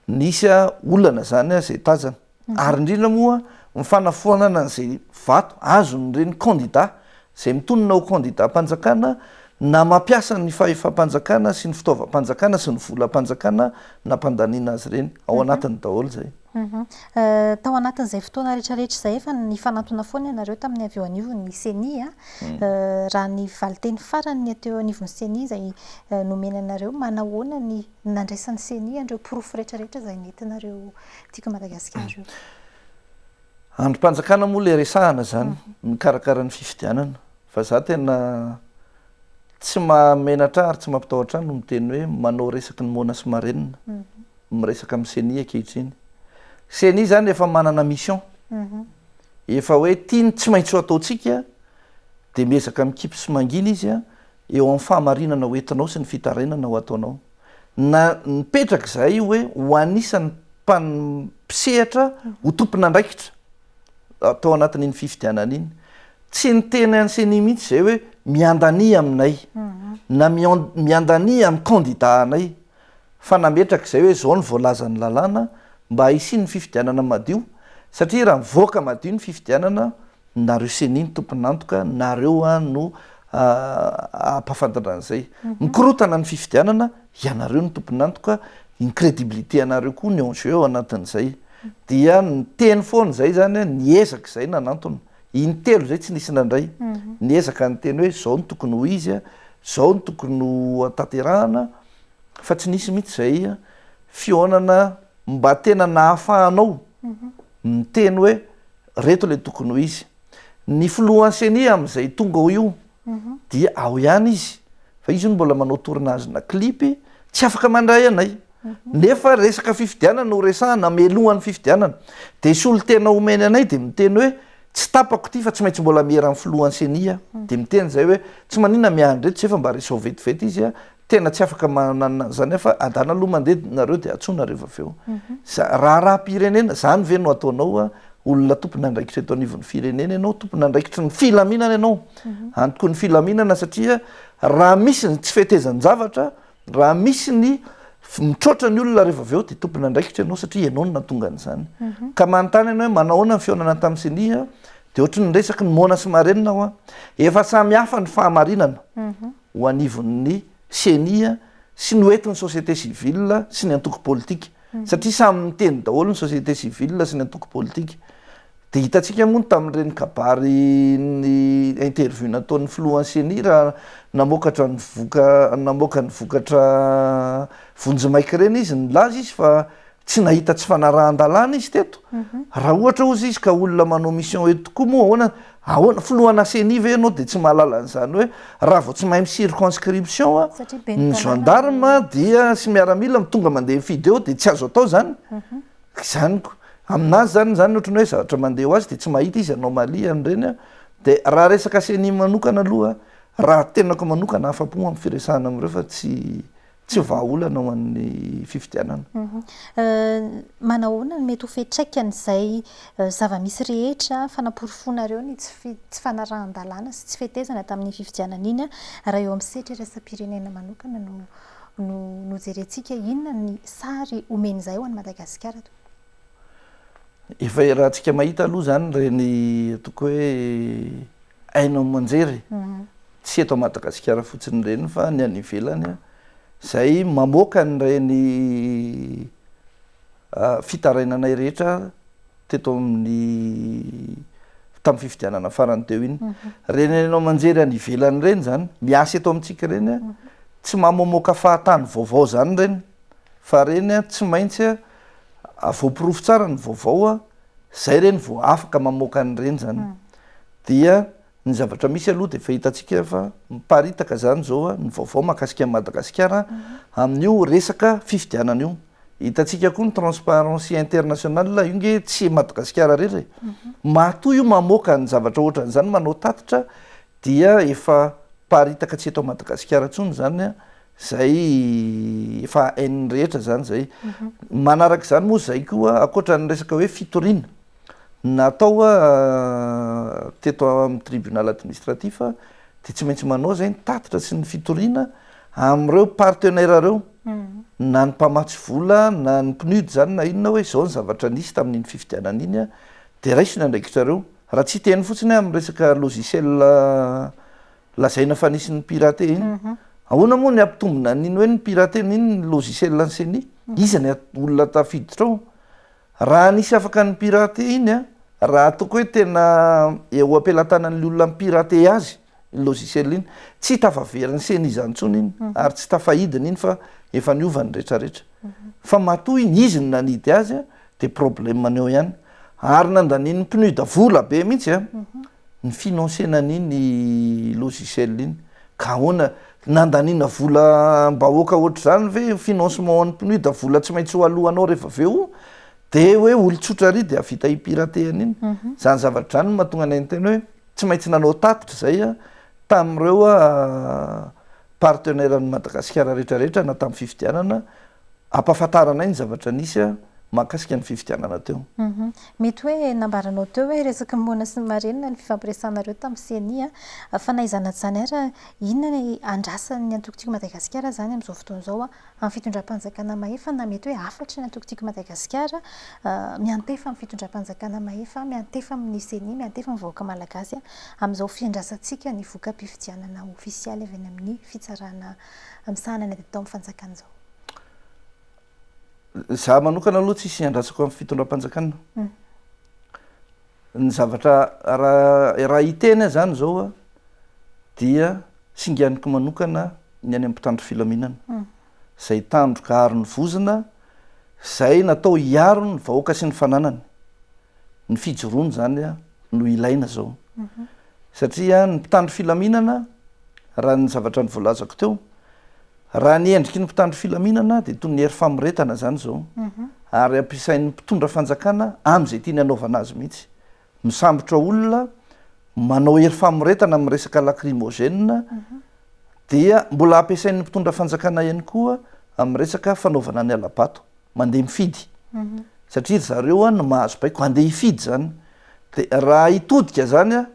nisy olana izany izay tazana. ary indrindra moa ny fanafoanana izay vato azon'ireny kandida izay mitonona ho kandidam-panjakana na mampiasa ny fahefam-panjakana sy ny fitaovam-panjakana sy ny volam-panjakana nampandaniana azy ireny. Ao anatiny daholo izay. Tao anatin'izay fotoana rehetrarehetra izay efa nifanantona foana ianareo tamin'ny avy eo anivon'ny ceni, raha ny valinteny farany ny aty eo anivon'ny ceni izay nomena anareo, manahoana ny nandraisan'ny Ceni an'ireo porofo rehetrarehetra izay nentinareo Tiako Madagasikara io? Andrim-panjakana moa ilay resahana izany, mikarakara ny fifidianana, fa za tena tsy mahamenatra ahy ary tsy mampitahotra ahy no miteny hoe manao resaky ny moana sy marenina, miresaka amin'ny Ceni ankehitriny. Ceni izany efa manana mission, efa hoe ity no tsy maintsy ho ataontsika, dia miezaka mikipy sy mangina izy, eo amin'ny fahamarinana ho entinao sy ny fitarainana ho ataonao, na nipetraka izahay hoe ho anisan'ny mpisehatra ho tompon'andraikitra tao anatin'iny fifidianana iny. Tsy niteny an'i Ceni mihitsy izahay hoe miandania aminay na miandania amin'ny kandida anay, fa nametraka izay hoe izao no voalazan'ny lalàna mba hisian'ny fifidianana madio, satria raha mivoaka madio ny fifidianana, Nareo ceni ny tompon'antoka nareo no ampafantatra an'izay. Mikorotana ny fifidianana ianareo no tompon'antoka, ny crédibilité anareo koa no en jeu ao anatin'izay. Dia niteny foana izay izany aho, niezaka izay nanantona. Intelo izay tsy nisy nandray. Niezaka niteny hoe izao no tokony ho izy, izao no tokony ho tanterahana fa tsy nisy mihitsy izay fihaonana mba tena nahafahanao miteny hoe. Reto ilay tokony ho izy. Ny filohan'ny ceni amin'izay tonga ao io dia ao ihany izy fa izy hono mbola manao tournage-na clip, tsy afaka mandray anay nefa resaka fifidianana no resahana mialohan'ny fifidianana dia solontena omeny anay dia miteny hoe tsy tapako ity fa tsy maintsy mbola miera amin'ny filohan'ny ceni aho dia miteny izay hoe tsy maninona miandry eto izay fa mba resao vetivety izy Tena tsy afaka mananina an'izany aho fa adala aloha mandeha nareo dia antsoina rehefa avy eo. Raharaham-pirenena, izany ve no ataonao hoe olona tompon'andraikitra eto anivon'ny firenena ianao, tompon'andraikitry ny filaminana ianao. Antoko ny filaminana satria raha misy ny tsy fetezan-javatra, raha misy ny mitroatra ny olona rehefa avy eo dia tompon'andraikitra ianao satria ianao no nahatonga an'izany. Ka manontany anao hoe manao ahoana ny fihaonana tamin'ny ceni dia ohatry ny resaky ny moana sy marenina aho an. Efa samy hafa ny fahamarinana. ho anivon'ny Ceni sy noentin'ny société civile sy ny antoko politika, satria samy niteny daholo ny société civile sy ny antoko politika. Dia hitantsika moa tamin'ireny kabary ny interview nataon'ny filohan'ny Ceni raha namokatra ny voka namoaka ny vokatra vonjimaika ireny izy, nilaza izy fa Tsy nahita tsy fanarahan-dalàna izy teto. Raha ohatra hozy izy ka olona manao mission eto tokoa moa ahoana ahoana filohanà ceni ve ianao dia tsy mahalala an'izany hoe raha vao tsy mahay mi-circonscription ny gendarme dia sy miaramila mi tonga mandeha mifidy eo dia tsy azo atao izany? Izany ko. Amin'azy izany izany ohatry ny hoe zavatra mandeha ho azy dia tsy mahita izy anomalie an'ireny an. Dia raha resaka ceni manokana aloha raha tenako manokana afa-po amin'ny firesahana amin'ireo fa tsy tsy vahaolana ho an'ny fifidianana. Manahoana no mety ho fiantraikan'izay zava-misy rehetra fanaporofoanareo ny tsy tsy fanarahan-dalàna sy tsy fetezana tamin'iny fifidianana iny raha eo amin'ny sehatra iraisam-pirenena manokana no no no jerentsika? Inona ny sary omen'izay ho an'i Madagasikara? Efa iarahantsika mahita aloha izany ireny ataoko hoe haino aman-jery. Tsy eto Madagasikara fotsiny ireny fa ny any ivelany izay mamoaka an'ireny fitarainanay rehetra teto amin'ny tamin'ny fifidianana farany teo iny. Ireny haino aman-jery any ivelany ireny izany, miasa eto amintsika ireny, tsy mamoaka fahatany vaovao izany ireny fa ireny tsy maintsy voaporofo tsara ny vaovao a, zay reny vao afaka mamoaka an'ireny zany, dia ny zavatra misy aloha dia efa hitantsika fa miparitaka zany zao a ny vaovao mahakasika an'i Madagasikara amin'io resaka fifidianana io, hitantsika koa ny transparency international io nge tsy Madagasikara rery e, matoa io mamoaka ny zavatra ohatran'izany manao tatitra dia efa paritaka tsy eto Madagasikara tsony zany a, Zay efa hain'ny rehetra zany zay. Manaraka izany moa zay koa ankoatra ny resaka hoe fitoriana natao teto amin'ny tribunal administratif dia tsy maintsy manao zay ny tatitra sy ny fitoriana amin'ireo partenaires ireo na ny mpamatsy vola na ny PNUD zany na inona hoe izao ny zavatra nisy tamin'iny fifidianana iny dia raiso ny andraikitrareo. Raha tsy hiteny fotsiny amin'ny resaka logiciel Lazaina fa nisy ny pirater iny. Ahoana moa ny hampitombina an'iny hoe ni-pirater ny iny ny logiciel an'ny ceni? Iza ny olona tafiditra ao? Raha nisy afaka ni-pirater iny an, raha ataoko hoe tena eo am-pelatanan'ny olona mi-pirater azy iny logiciel iny, tsy tafaverin'ny ceni izany intsony iny ary tsy tafahidiny iny fa efa niova ny rehetra rehetra. Fa matoa iny, izy no nanidy azy an, Dia problème ny eo ihany. Ary nandanin'ny PNUD vola be mihitsy an, ny financena an'iny logiciel iny. Ka ahoana, nandaniana vola am-bahoaka ohatr'izany ve io financement ho an'ny PNUD vola tsy maintsy ho aloanao rehefa avy eo dia hoe olon-tsotra àry dia hahavita hi-pirater an'iny. Izany zavatra izany no mahatonga anay niteny hoe tsy maintsy nanao tatitra izay tamin'ireo Partenaire an'i Madagasikara rehetra rehetra na tamin'ny fifidianana, ampahafantaranay ny zavatra nisy mahakasika ny fifidianana teo. Mety hoe nambaranao teo hoe resaky ny moana sy ny marenina ny fifampiresahanareo tamin'ny ceni fa na izany na izany ary, inona ny andrasan'ny antokontiko Madagasikara izany amin'izao fotoana izao Amin'ny fitondram-panjakana mahefa na mety hoe hafatry ny antoko Tiako Madagasikara, miantefa amin'ny fitondram-panjakana mahefa, miantefa amin'ny Ceni, miantefa amin'ny vahoaka malagasy amin'izao fiandrasantsika ny voka-pifidianana ofisialy avy any amin'ny fitsarana misahana ny ady atao amin'ny fanjakana izao. Izaho manokana aloha tsisy iandrasako amin'ny fitondram-panjakana. Ny zavatra raha raha hiteny aho zany zao a dia singaniko manokana ny any amin'ny mpitandro filaminana zay tandroka aro ny vozona zay natao hiaro ny vahoaka sy ny fananany ny fijoroana zany a no ilaina zao satria ny mpitandro filaminana raha ny zavatra ny voalazako teo Raha ny endriky ny mpitandro filaminana dia toy ny hery famoretana izany izao ary ampiasain'ny mpitondra fanjakana amin'izay tiany hanaovana azy mihitsy. Misambotra olona, manao hery famoretana amin'ny resaka lacrymogène dia mbola ampiasain'ny mpitondra fanjakana ihany koa amin'ny resaka fanaovana ny hala-bato. Mandeha mifidy satria ry zareo no mahazo baiko, handeha hifidy izany dia raha hitodika izany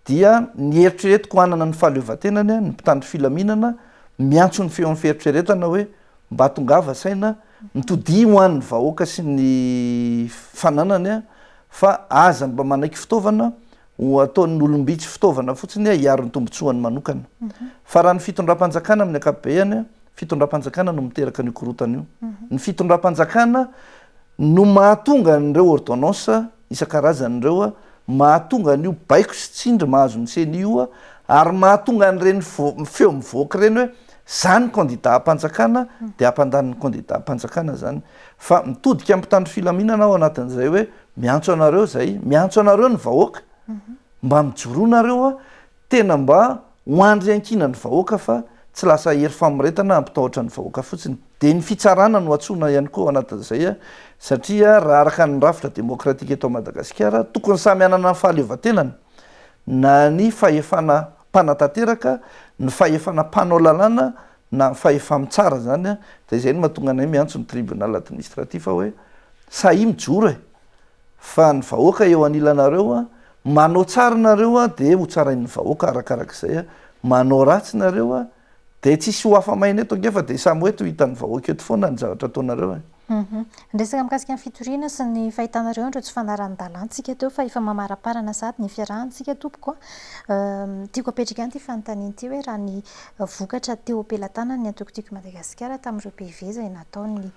dia ny eritreretiko hanana ny fahaleovantenany ny mpitandro filaminana miantso ny feon'ny fieritreretana hoe mba tongava saina mitodia ho an'ny vahoaka sy ny fananany fa aza mba manaiky fitaovana ho ataon'ny olom-bitsy fitaovana fotsiny hiaro ny tombotsoany manokana fa raha ny fitondram-panjakana amin'ny akapobeany fitondram-panjakana no miteraka an'io korotana io ny fitondram-panjakana no mahatonga an'ireo ordonnance isan-karazany ireo mahatonga an'io baiko sy tsindry mahazo ny ceni io ary mahatonga an'ireny feo mivoaka ireny hoe zany candidat am-panjakana dia hampandany ny candidat am-panjakana zany fa mitodika amin'ny mpitandro filaminana ao anatin'izay hoe miantso anareo izay miantso anareo ny vahoaka mba mijoroa nareo Tena mba ho andry iankinan'ny vahoaka fa tsy lasa hery famoretana hampitahotra ny vahoaka fotsiny. Dia ny fitsarana no antsoina ihany koa ao anatin'izay satria raha araka ny rafitra demokratika eto Madagasikara tokony samy hanana ny fahaleovantenany na ny fahefana mpanatanteraka, ny fahefana mpanao lalàna na ny fahefa-mitsara izany dia izay no mahatonga anay miantso ny tribunal administratif hoe sahia mijoro e! fa ny vahoaka eo anilanareo a, manao tsara nareo a de ho tsarain'ny vahoaka arakarak'izay a, manao ratsy nareo a de tsisy ho afa maina eto ange fa de samy ho eto ho hitan'ny vahoaka eto foana ny zavatra ataonareo e. Hum ny resaka mikasika ny fitoriana sy ny fahitanareo an'ireo tsy fanarahan-dalantsika teo fa efa mamaraparana sahady ny fiarahantsika tompoko a, tiako apetraka ihany ity fanontaniana ity hoe raha ny vokatra teo am-pelatanan'ny antoko Tiako i Madagasikara tamin'ireo PV izay nataon'ny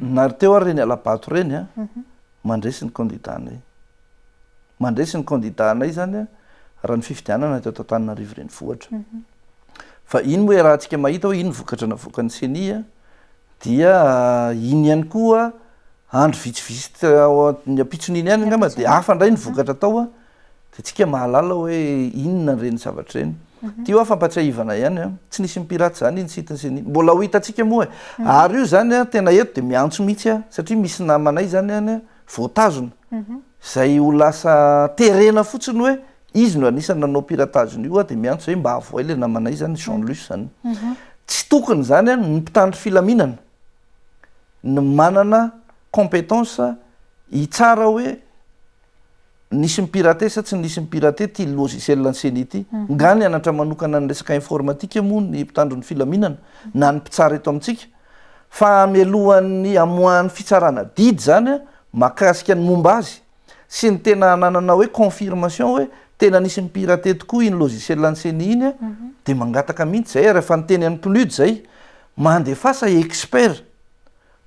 Nary teo ary reny alabato reny a mandresy ny kandida anay mandresy ny kandida anay zany a raha ny fifidianana atao tantananarivo reny fohatra mhm. fa iny moa raha antsika mahita hoe iny vokatra na vokany seni a dia ah, iny ihany koa andro vitsivitsy ny ampitson'iny ihany angamba dia hafa indray ny vokatra atao a Dia tsika mahalala hoe inona ireny zavatra ireny. Ity hoa fampatsiahivana ihany an. Tsy nisy mipirate izany iny site sy ny. Mbola ho hitantsika moa e. Ary io izany an, tena eto dia miantso mihitsy aho, satria misy namanay izany any an, voatazona. Izay ho lasa terena fotsiny hoe izy no anisan'ny nanao piratage an'io aho dia miantso hoe mba avohay ilay namanay izany, Jean Luce izany. Tsy tokony izany an, ny mpitandro filaminana no manana competence hitsara hoe. Nisy mi-pirater sa tsy nisy mi-pirater ity logiciel an'ny ceni ity? Nga nianatra manokana ny resaka informatika moa ny mpitandro ny filaminana na ny mpitsara eto amintsika? Fa hamelohan'ny hamoahan'ny fitsarana didy izany mahakasika ny momba azy sy ny tena hananana hoe confirmation hoe tena nisy mi-pirater tokoa iny logiciel an'ny ceni iny dia mangataka mihitsy izay ary efa niteny an'i PNUD izay mandefasa expert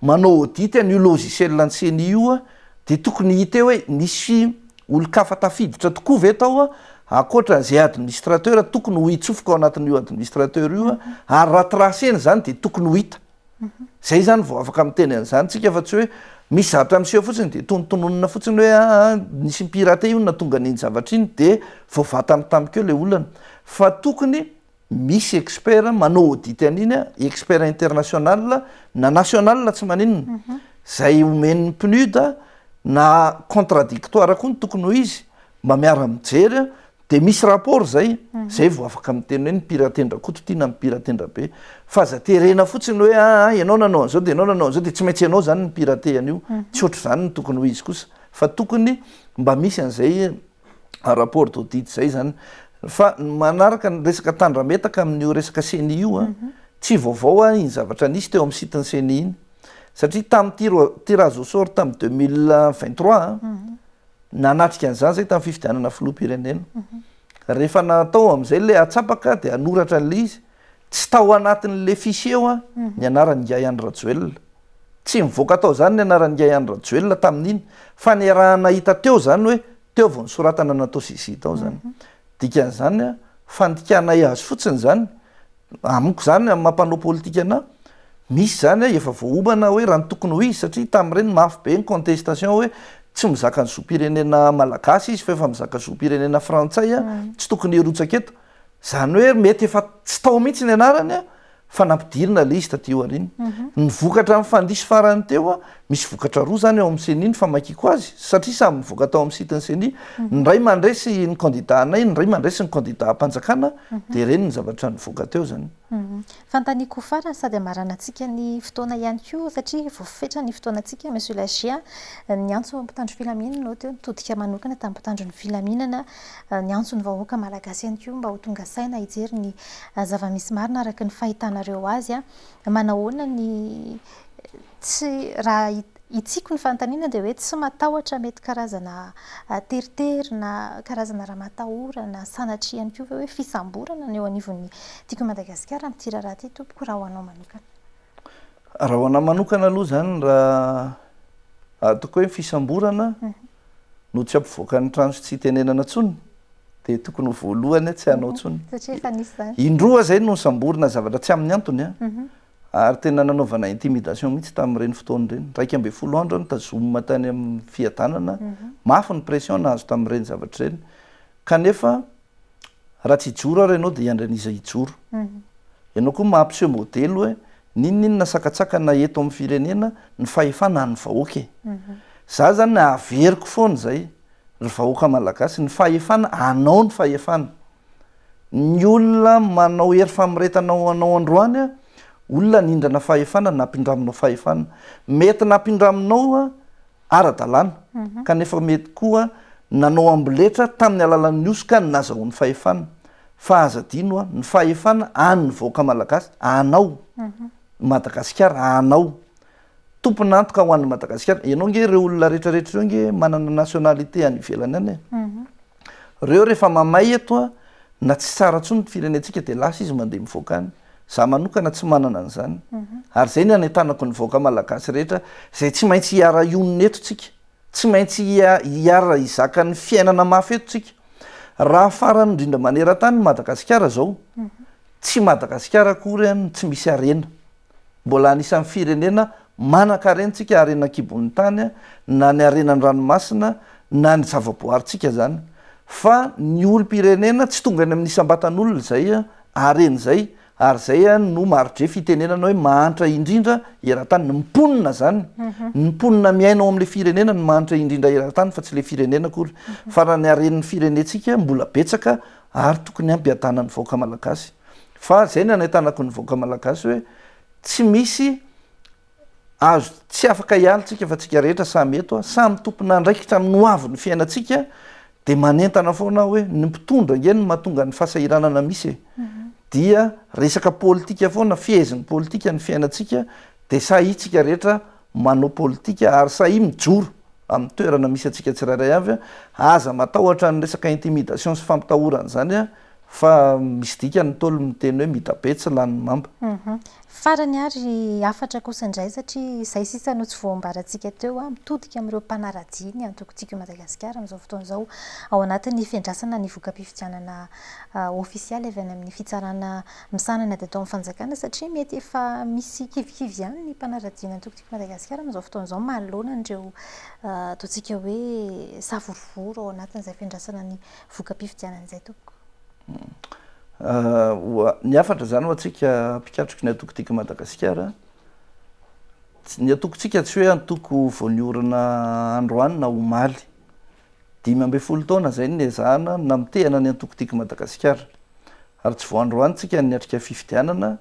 manao audit an'io logiciel ny ceni io dia tokony hita eo hoe nisy olon-kafa tafiditra tokoa ve tao ankoatra an'izay administrateur tokony ho itsofoka ao anatin'io administrateur io ary raha tracer-na izany dia tokony ho hita izay izany vao afaka miteny an'izany isika fa tsy hoe misy zavatra miseho fotsiny dia tonontononina fotsiny hoe aa nisy ni-pirater io no nahatonga an'iny zavatra iny dia vao vantany tamiko eo ilay olana fa tokony Misy expert manao audit an'iny a, expert international na national tsy maninona, izay omen'ny PNUD a, na contradictoire koa ny tokony ho izy, mba miara-mijery a, dia misy rapport izay, izay vao afaka miteny hoe ny Mpiratendra Koto ity na ny Mpiratendra be. Fa aza terena fotsiny hoe a a ianao nanao an'izao dia ianao nanao an'izao dia tsy maintsy ianao izany no mpirate an'io, tsy ohatr'izany no tokony ho izy kosa, fa tokony mba misy an'izay rapport d'audit zay zany fa manaraka ny resaka tandrametaka amin'io resaka ceni io a mhm. tsy vaovao a iny zavatra nisy teo amin'ny site ny ceni iny satria tamin'ity tirage au sort tamin'ny deux mille vingt trois a mhm. nanatrika an'izany zay tamin'ny fifidianana filoham-pirenena mhm. rehefa natao amin'izay le atsapaka dia hanoratra an'le izy tsy tao anatin'le fichier eo a ny anaran'ingahy andry rajoelina Tsy nivoaka tao izany ny anaran'ingahy Andry Rajoelina tamin'iny fa niaraha-nahita teo izany hoe teo vao nisoratana natao CGI tao izany. Dikan'izany, fandikanay azy fotsiny izany, amiko izany amin'ny maha mpanao politika anà, misy izany efa voaomana hoe raha ny tokony ho izy satria tamin'ireny mafy be ny contestation hoe tsy mizaka ny zom-pirenena malagasy izy fa efa mizaka zom-pirenena frantsay, tsy tokony hirotsaka eto. Izany hoe mety efa tsy tao mihitsy ny anarany. fa nampidirina ilay izy taty aoriana. Mhm. Ny vokatra amin'ny fandiso farany teo, misy vokatra roa izany ao amin'ny CENI ny famakiako azy, satria samy mivoaka tao amin'ny site ny CENI. Mhm. Ny iray mandresy ny kandidà anay, ny iray mandresy ny kandidà am-panjakana, mhm. dia ireny ny zavatra nivoaka teo izany. Fanontaniako farany sady hamaranantsika ny fotoana ihany koa, satria voafetra ny fotoanantsika, Monsieur Lagier, ny antso mpitandro filaminana, ohatry hoe nitodika manokana tamin'ny mpitandro ny filaminana, Niantso ny vahoaka malagasy ihany koa mba ho tonga saina hijery ny zava-misy marina araka ny fahitanareo azy. Manahoana ny tsy, raha hitsiko ny fanontaniana dia hoe tsy matahotra mety karazana teritery na karazana raha matahorana sanatria ihany koa ve hoe fisamborana ny eo anivon'ny Tiako i Madagasikara amin'ity raharaha ity tompoko raha ho anao manokana? Raha ho anà manokana aloha izany raha ataoko hoe fisamborana, no tsy ampivoakan'ny trano sy tsy itenenana intsony dia tokony ho voalohany tsy hanao intsony. Satria efa nisy izany. Indroa izay no nisamborina zavatra tsy amin'ny antony an. Mhm. Ary tena nanaovana intimidation mihitsy tamin'ireny fotoana ireny. Iraika ambin'ny folo andro aho nitazomina tany amin'ny fiadanana, mhm. mafy ny pression nahazo tamin'ireny zavatra ireny. Kanefa Raha tsy hijoro ary ianao dia hiandry an'iza hijoro? Ianao koa mampiseho modely hoe n'inon'inona sakatsakana eto amin'ny firenena ny fahefana an'ny vahoaka e! Za zany averiko foana izay ry vahoaka malagasy, ny fahefana anao ny fahefana. Ny olona manao hery famoretana ho anao androany olona nindrana fahefana nampindraminao fahefana. Mety nampindraminao ara-dalàna, kanefa mety koa nanao amboletra tamin'ny alalan'ny hosoka ny nazahoany fahefana. Fa aza adino an, ny fahefana an'ny vahoaka malagasy, anao, Madagasikara, anao. Tompon'antoka ho an'ny Madagasikara. Ianao ange ireo olona rehetra rehetra ireo ange manana nationalité any ivelany any e. Reo rehefa mamay eto na tsy tsara tsony ny firenentsika dia lasa izy mandeha mivoaka any. Za manokana tsy manana an'izany ary zay ny anentanako ny vahoaka malagasy rehetra zay tsy maintsy hiara-hionona eto tsika, tsy maintsy hiara hizaka ny fiainana mafy eto tsika. Raha farany indrindra maneran-tany ny Madagasikara zao, tsy Madagasikara akory an tsy misy harena. Mbola anisan'ny firenena manan-karena tsika, harena an-kibon'ny tany, na ny harena an-dranomasina, na ny zava-boaharintsika zany. Fa ny olom-pirenena tsy tonga any amin'ny isam-batan'olona izay Areny zay ary zay an no marodre fitenenana hoe mahantra indrindra eratany ny mponina zany ny mponina miaina ao amle firenena no mahantra indrindra eratany fa tsy le firenena akory fa raha ny haren'ny firenetsika mbola betsaka ary tokony hampiadana ny vahoaka malagasy fa zay ny anahitanako ny vahoaka malagasy hoe tsy misy Azo tsy afaka hiala tsika fa tsika rehetra samy eto a, samy tompon'andraikitra amin'ny ho avin'ny fiainantsika dia manentana foana aho hoe ny mpitondra ange no mahatonga ny fahasahiranana misy e! dia resaka politika foana, fehezin'ny politika ny fiainantsika dia sahia tsika rehetra manao politika ary sahia mijoro amin'ny toerana misy antsika tsirairay avy a, aza matahotra ny resaka intimidation sy fampitahorana izany a, Fa misy dikany ny Ntaolo miteny hoe midabe tsy lany mamba. Farany ary hafatra kosa indray satria izay sisa no tsy voambarantsika teo a! Mitodika amin'ireo mpanaradia ny antokontsika i Madagasikara amin'izao fotoana izao ao anatin'ny fiandrasana ny voka-pifidianana ofisialy avy any amin'ny fitsarana misahana ny ataon'ny fanjakana satria mety efa misy kivikivy ihany ny mpanaradia ny antokontsika i Madagasikara amin'izao fotoana izao manoloana an'ireo ataontsika hoe savorovoro ao anatin'izay fiandrasana ny voka-pifidianana izay tompoko? Ny hafatra izany ho antsika mpikatroky ny antoko Tika Madagasikara, ny antokontsika tsy hoe antoko vao niorina androany na omaly. Dimy ambin'ny folo taona izay no niezahana ny namotehana ny antoko Tika Madagasikara. Ary tsy vao androany tsika no niatrika fifidianana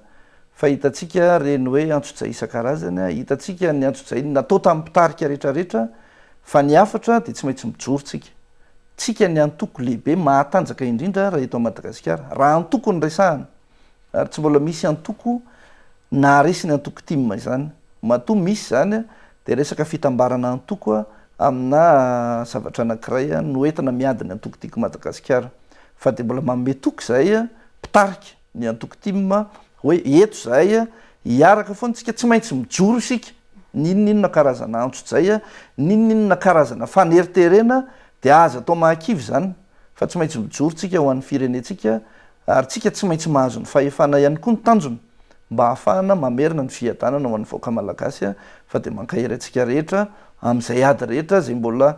fa hitantsika ireny hoe antsojay isan-karazany, hitantsika ny antsojay natao tamin'ny mpitarika rehetra rehetra fa ny hafatra dia tsy maintsy mijoro tsika. Tsika ny antoko lehibe mahatanjaka indrindra raha eto Madagasikara raha antoko no resahana ary tsy mbola misy antoko naharesy ny antoko tim izany matoa misy izany dia resaka fitambarana antoko amina zavatra anakiray no entina miady ny antoko tiko Madagasikara fa dia mbola manome toky izahay mpitarika ny antoko tim hoe eto izahay hiaraka foana isika tsy maintsy mijoro isika n'inon'inona karazana antso jay n'inon'inona karazana faneriterena dia aza atao mahakivy izany fa tsy maintsy mijoro tsika ho an'ny firenentsika ary tsika tsy maintsy mahazo ny fahefana ihany koa ny tanjona mba hahafahana mamerina ny fiadanana ho an'ny vahoaka malagasy fa dia mankahery antsika rehetra amin'izay ady rehetra izay mbola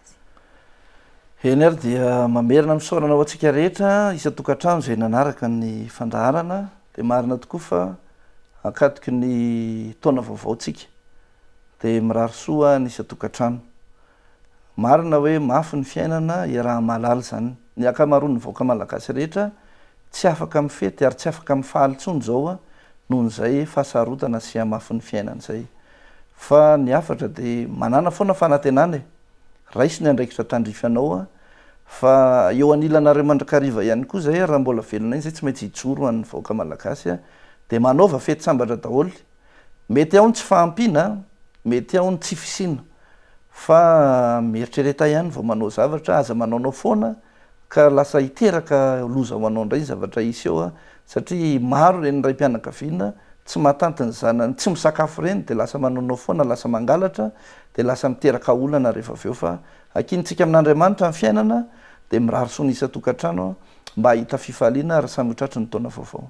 Eny ary dia mamerina misaonana ho antsika rehetra isan-tokantrano izay nanaraka ny fandaharana. Dia marina tokoa fa ankatoky ny taona vaovaontsika dia mirary soa ny isan-tokantrano. Marina hoe mafy ny fiainana, iaraha-mahalala izany. Ny ankamaroan'ny vahoaka malagasy rehetra Tsy afaka mifety ary tsy afaka mifaly intsony izao aho noho izay fahasarotana sy hamafin'ny fiainana izay. Fa ny hafatra dia manàna foana fanantenana e! Raiso ny andraikitra tandrify anao aho fa eo anilanareo mandrakariva ihany koa izay raha mbola velona iny izay tsy maintsy hijoro ho an'ny vahoaka malagasy aho dia manaova fety sambatra daholo. Mety ao ny tsy fahampiana, mety ao ny tsy fisiana fa mieritrereta ihany vao manao zavatra, aza manaonao foana ka lasa hiteraka loza ho anao indray ny zavatra hisy eo satria maro ireny raim-pianakaviana tsy mahatanty ny zanany tsy misakafo ireny dia lasa manaonao foana lasa mangalatra dia lasa miteraka olana rehefa avy eo fa hakinintsika amin'Andriamanitra ny fiainana dia mirary soa ny isan-tokantrano mba hahita fifaliana ary samy ho tratry ny taona vaovao.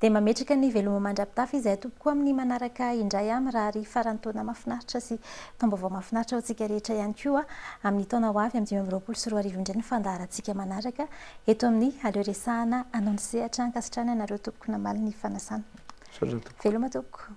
Dia mametraka ny veloma mandra-pitafy izahay tompoko amin'ny manaraka indray aho mirary faran'ny taona mahafinaritra sy taom-baovao mahafinaritra ho antsika rehetra ihany koa amin'ny taona ho avy amin'ny dimy amby roapolo sy roa arivo indray ny fandaharantsika manaraka eto amin'ny aleo resahana anao ny sehatra ankasitrahana anareo tompoko namaly ny fanasana veloma tompoko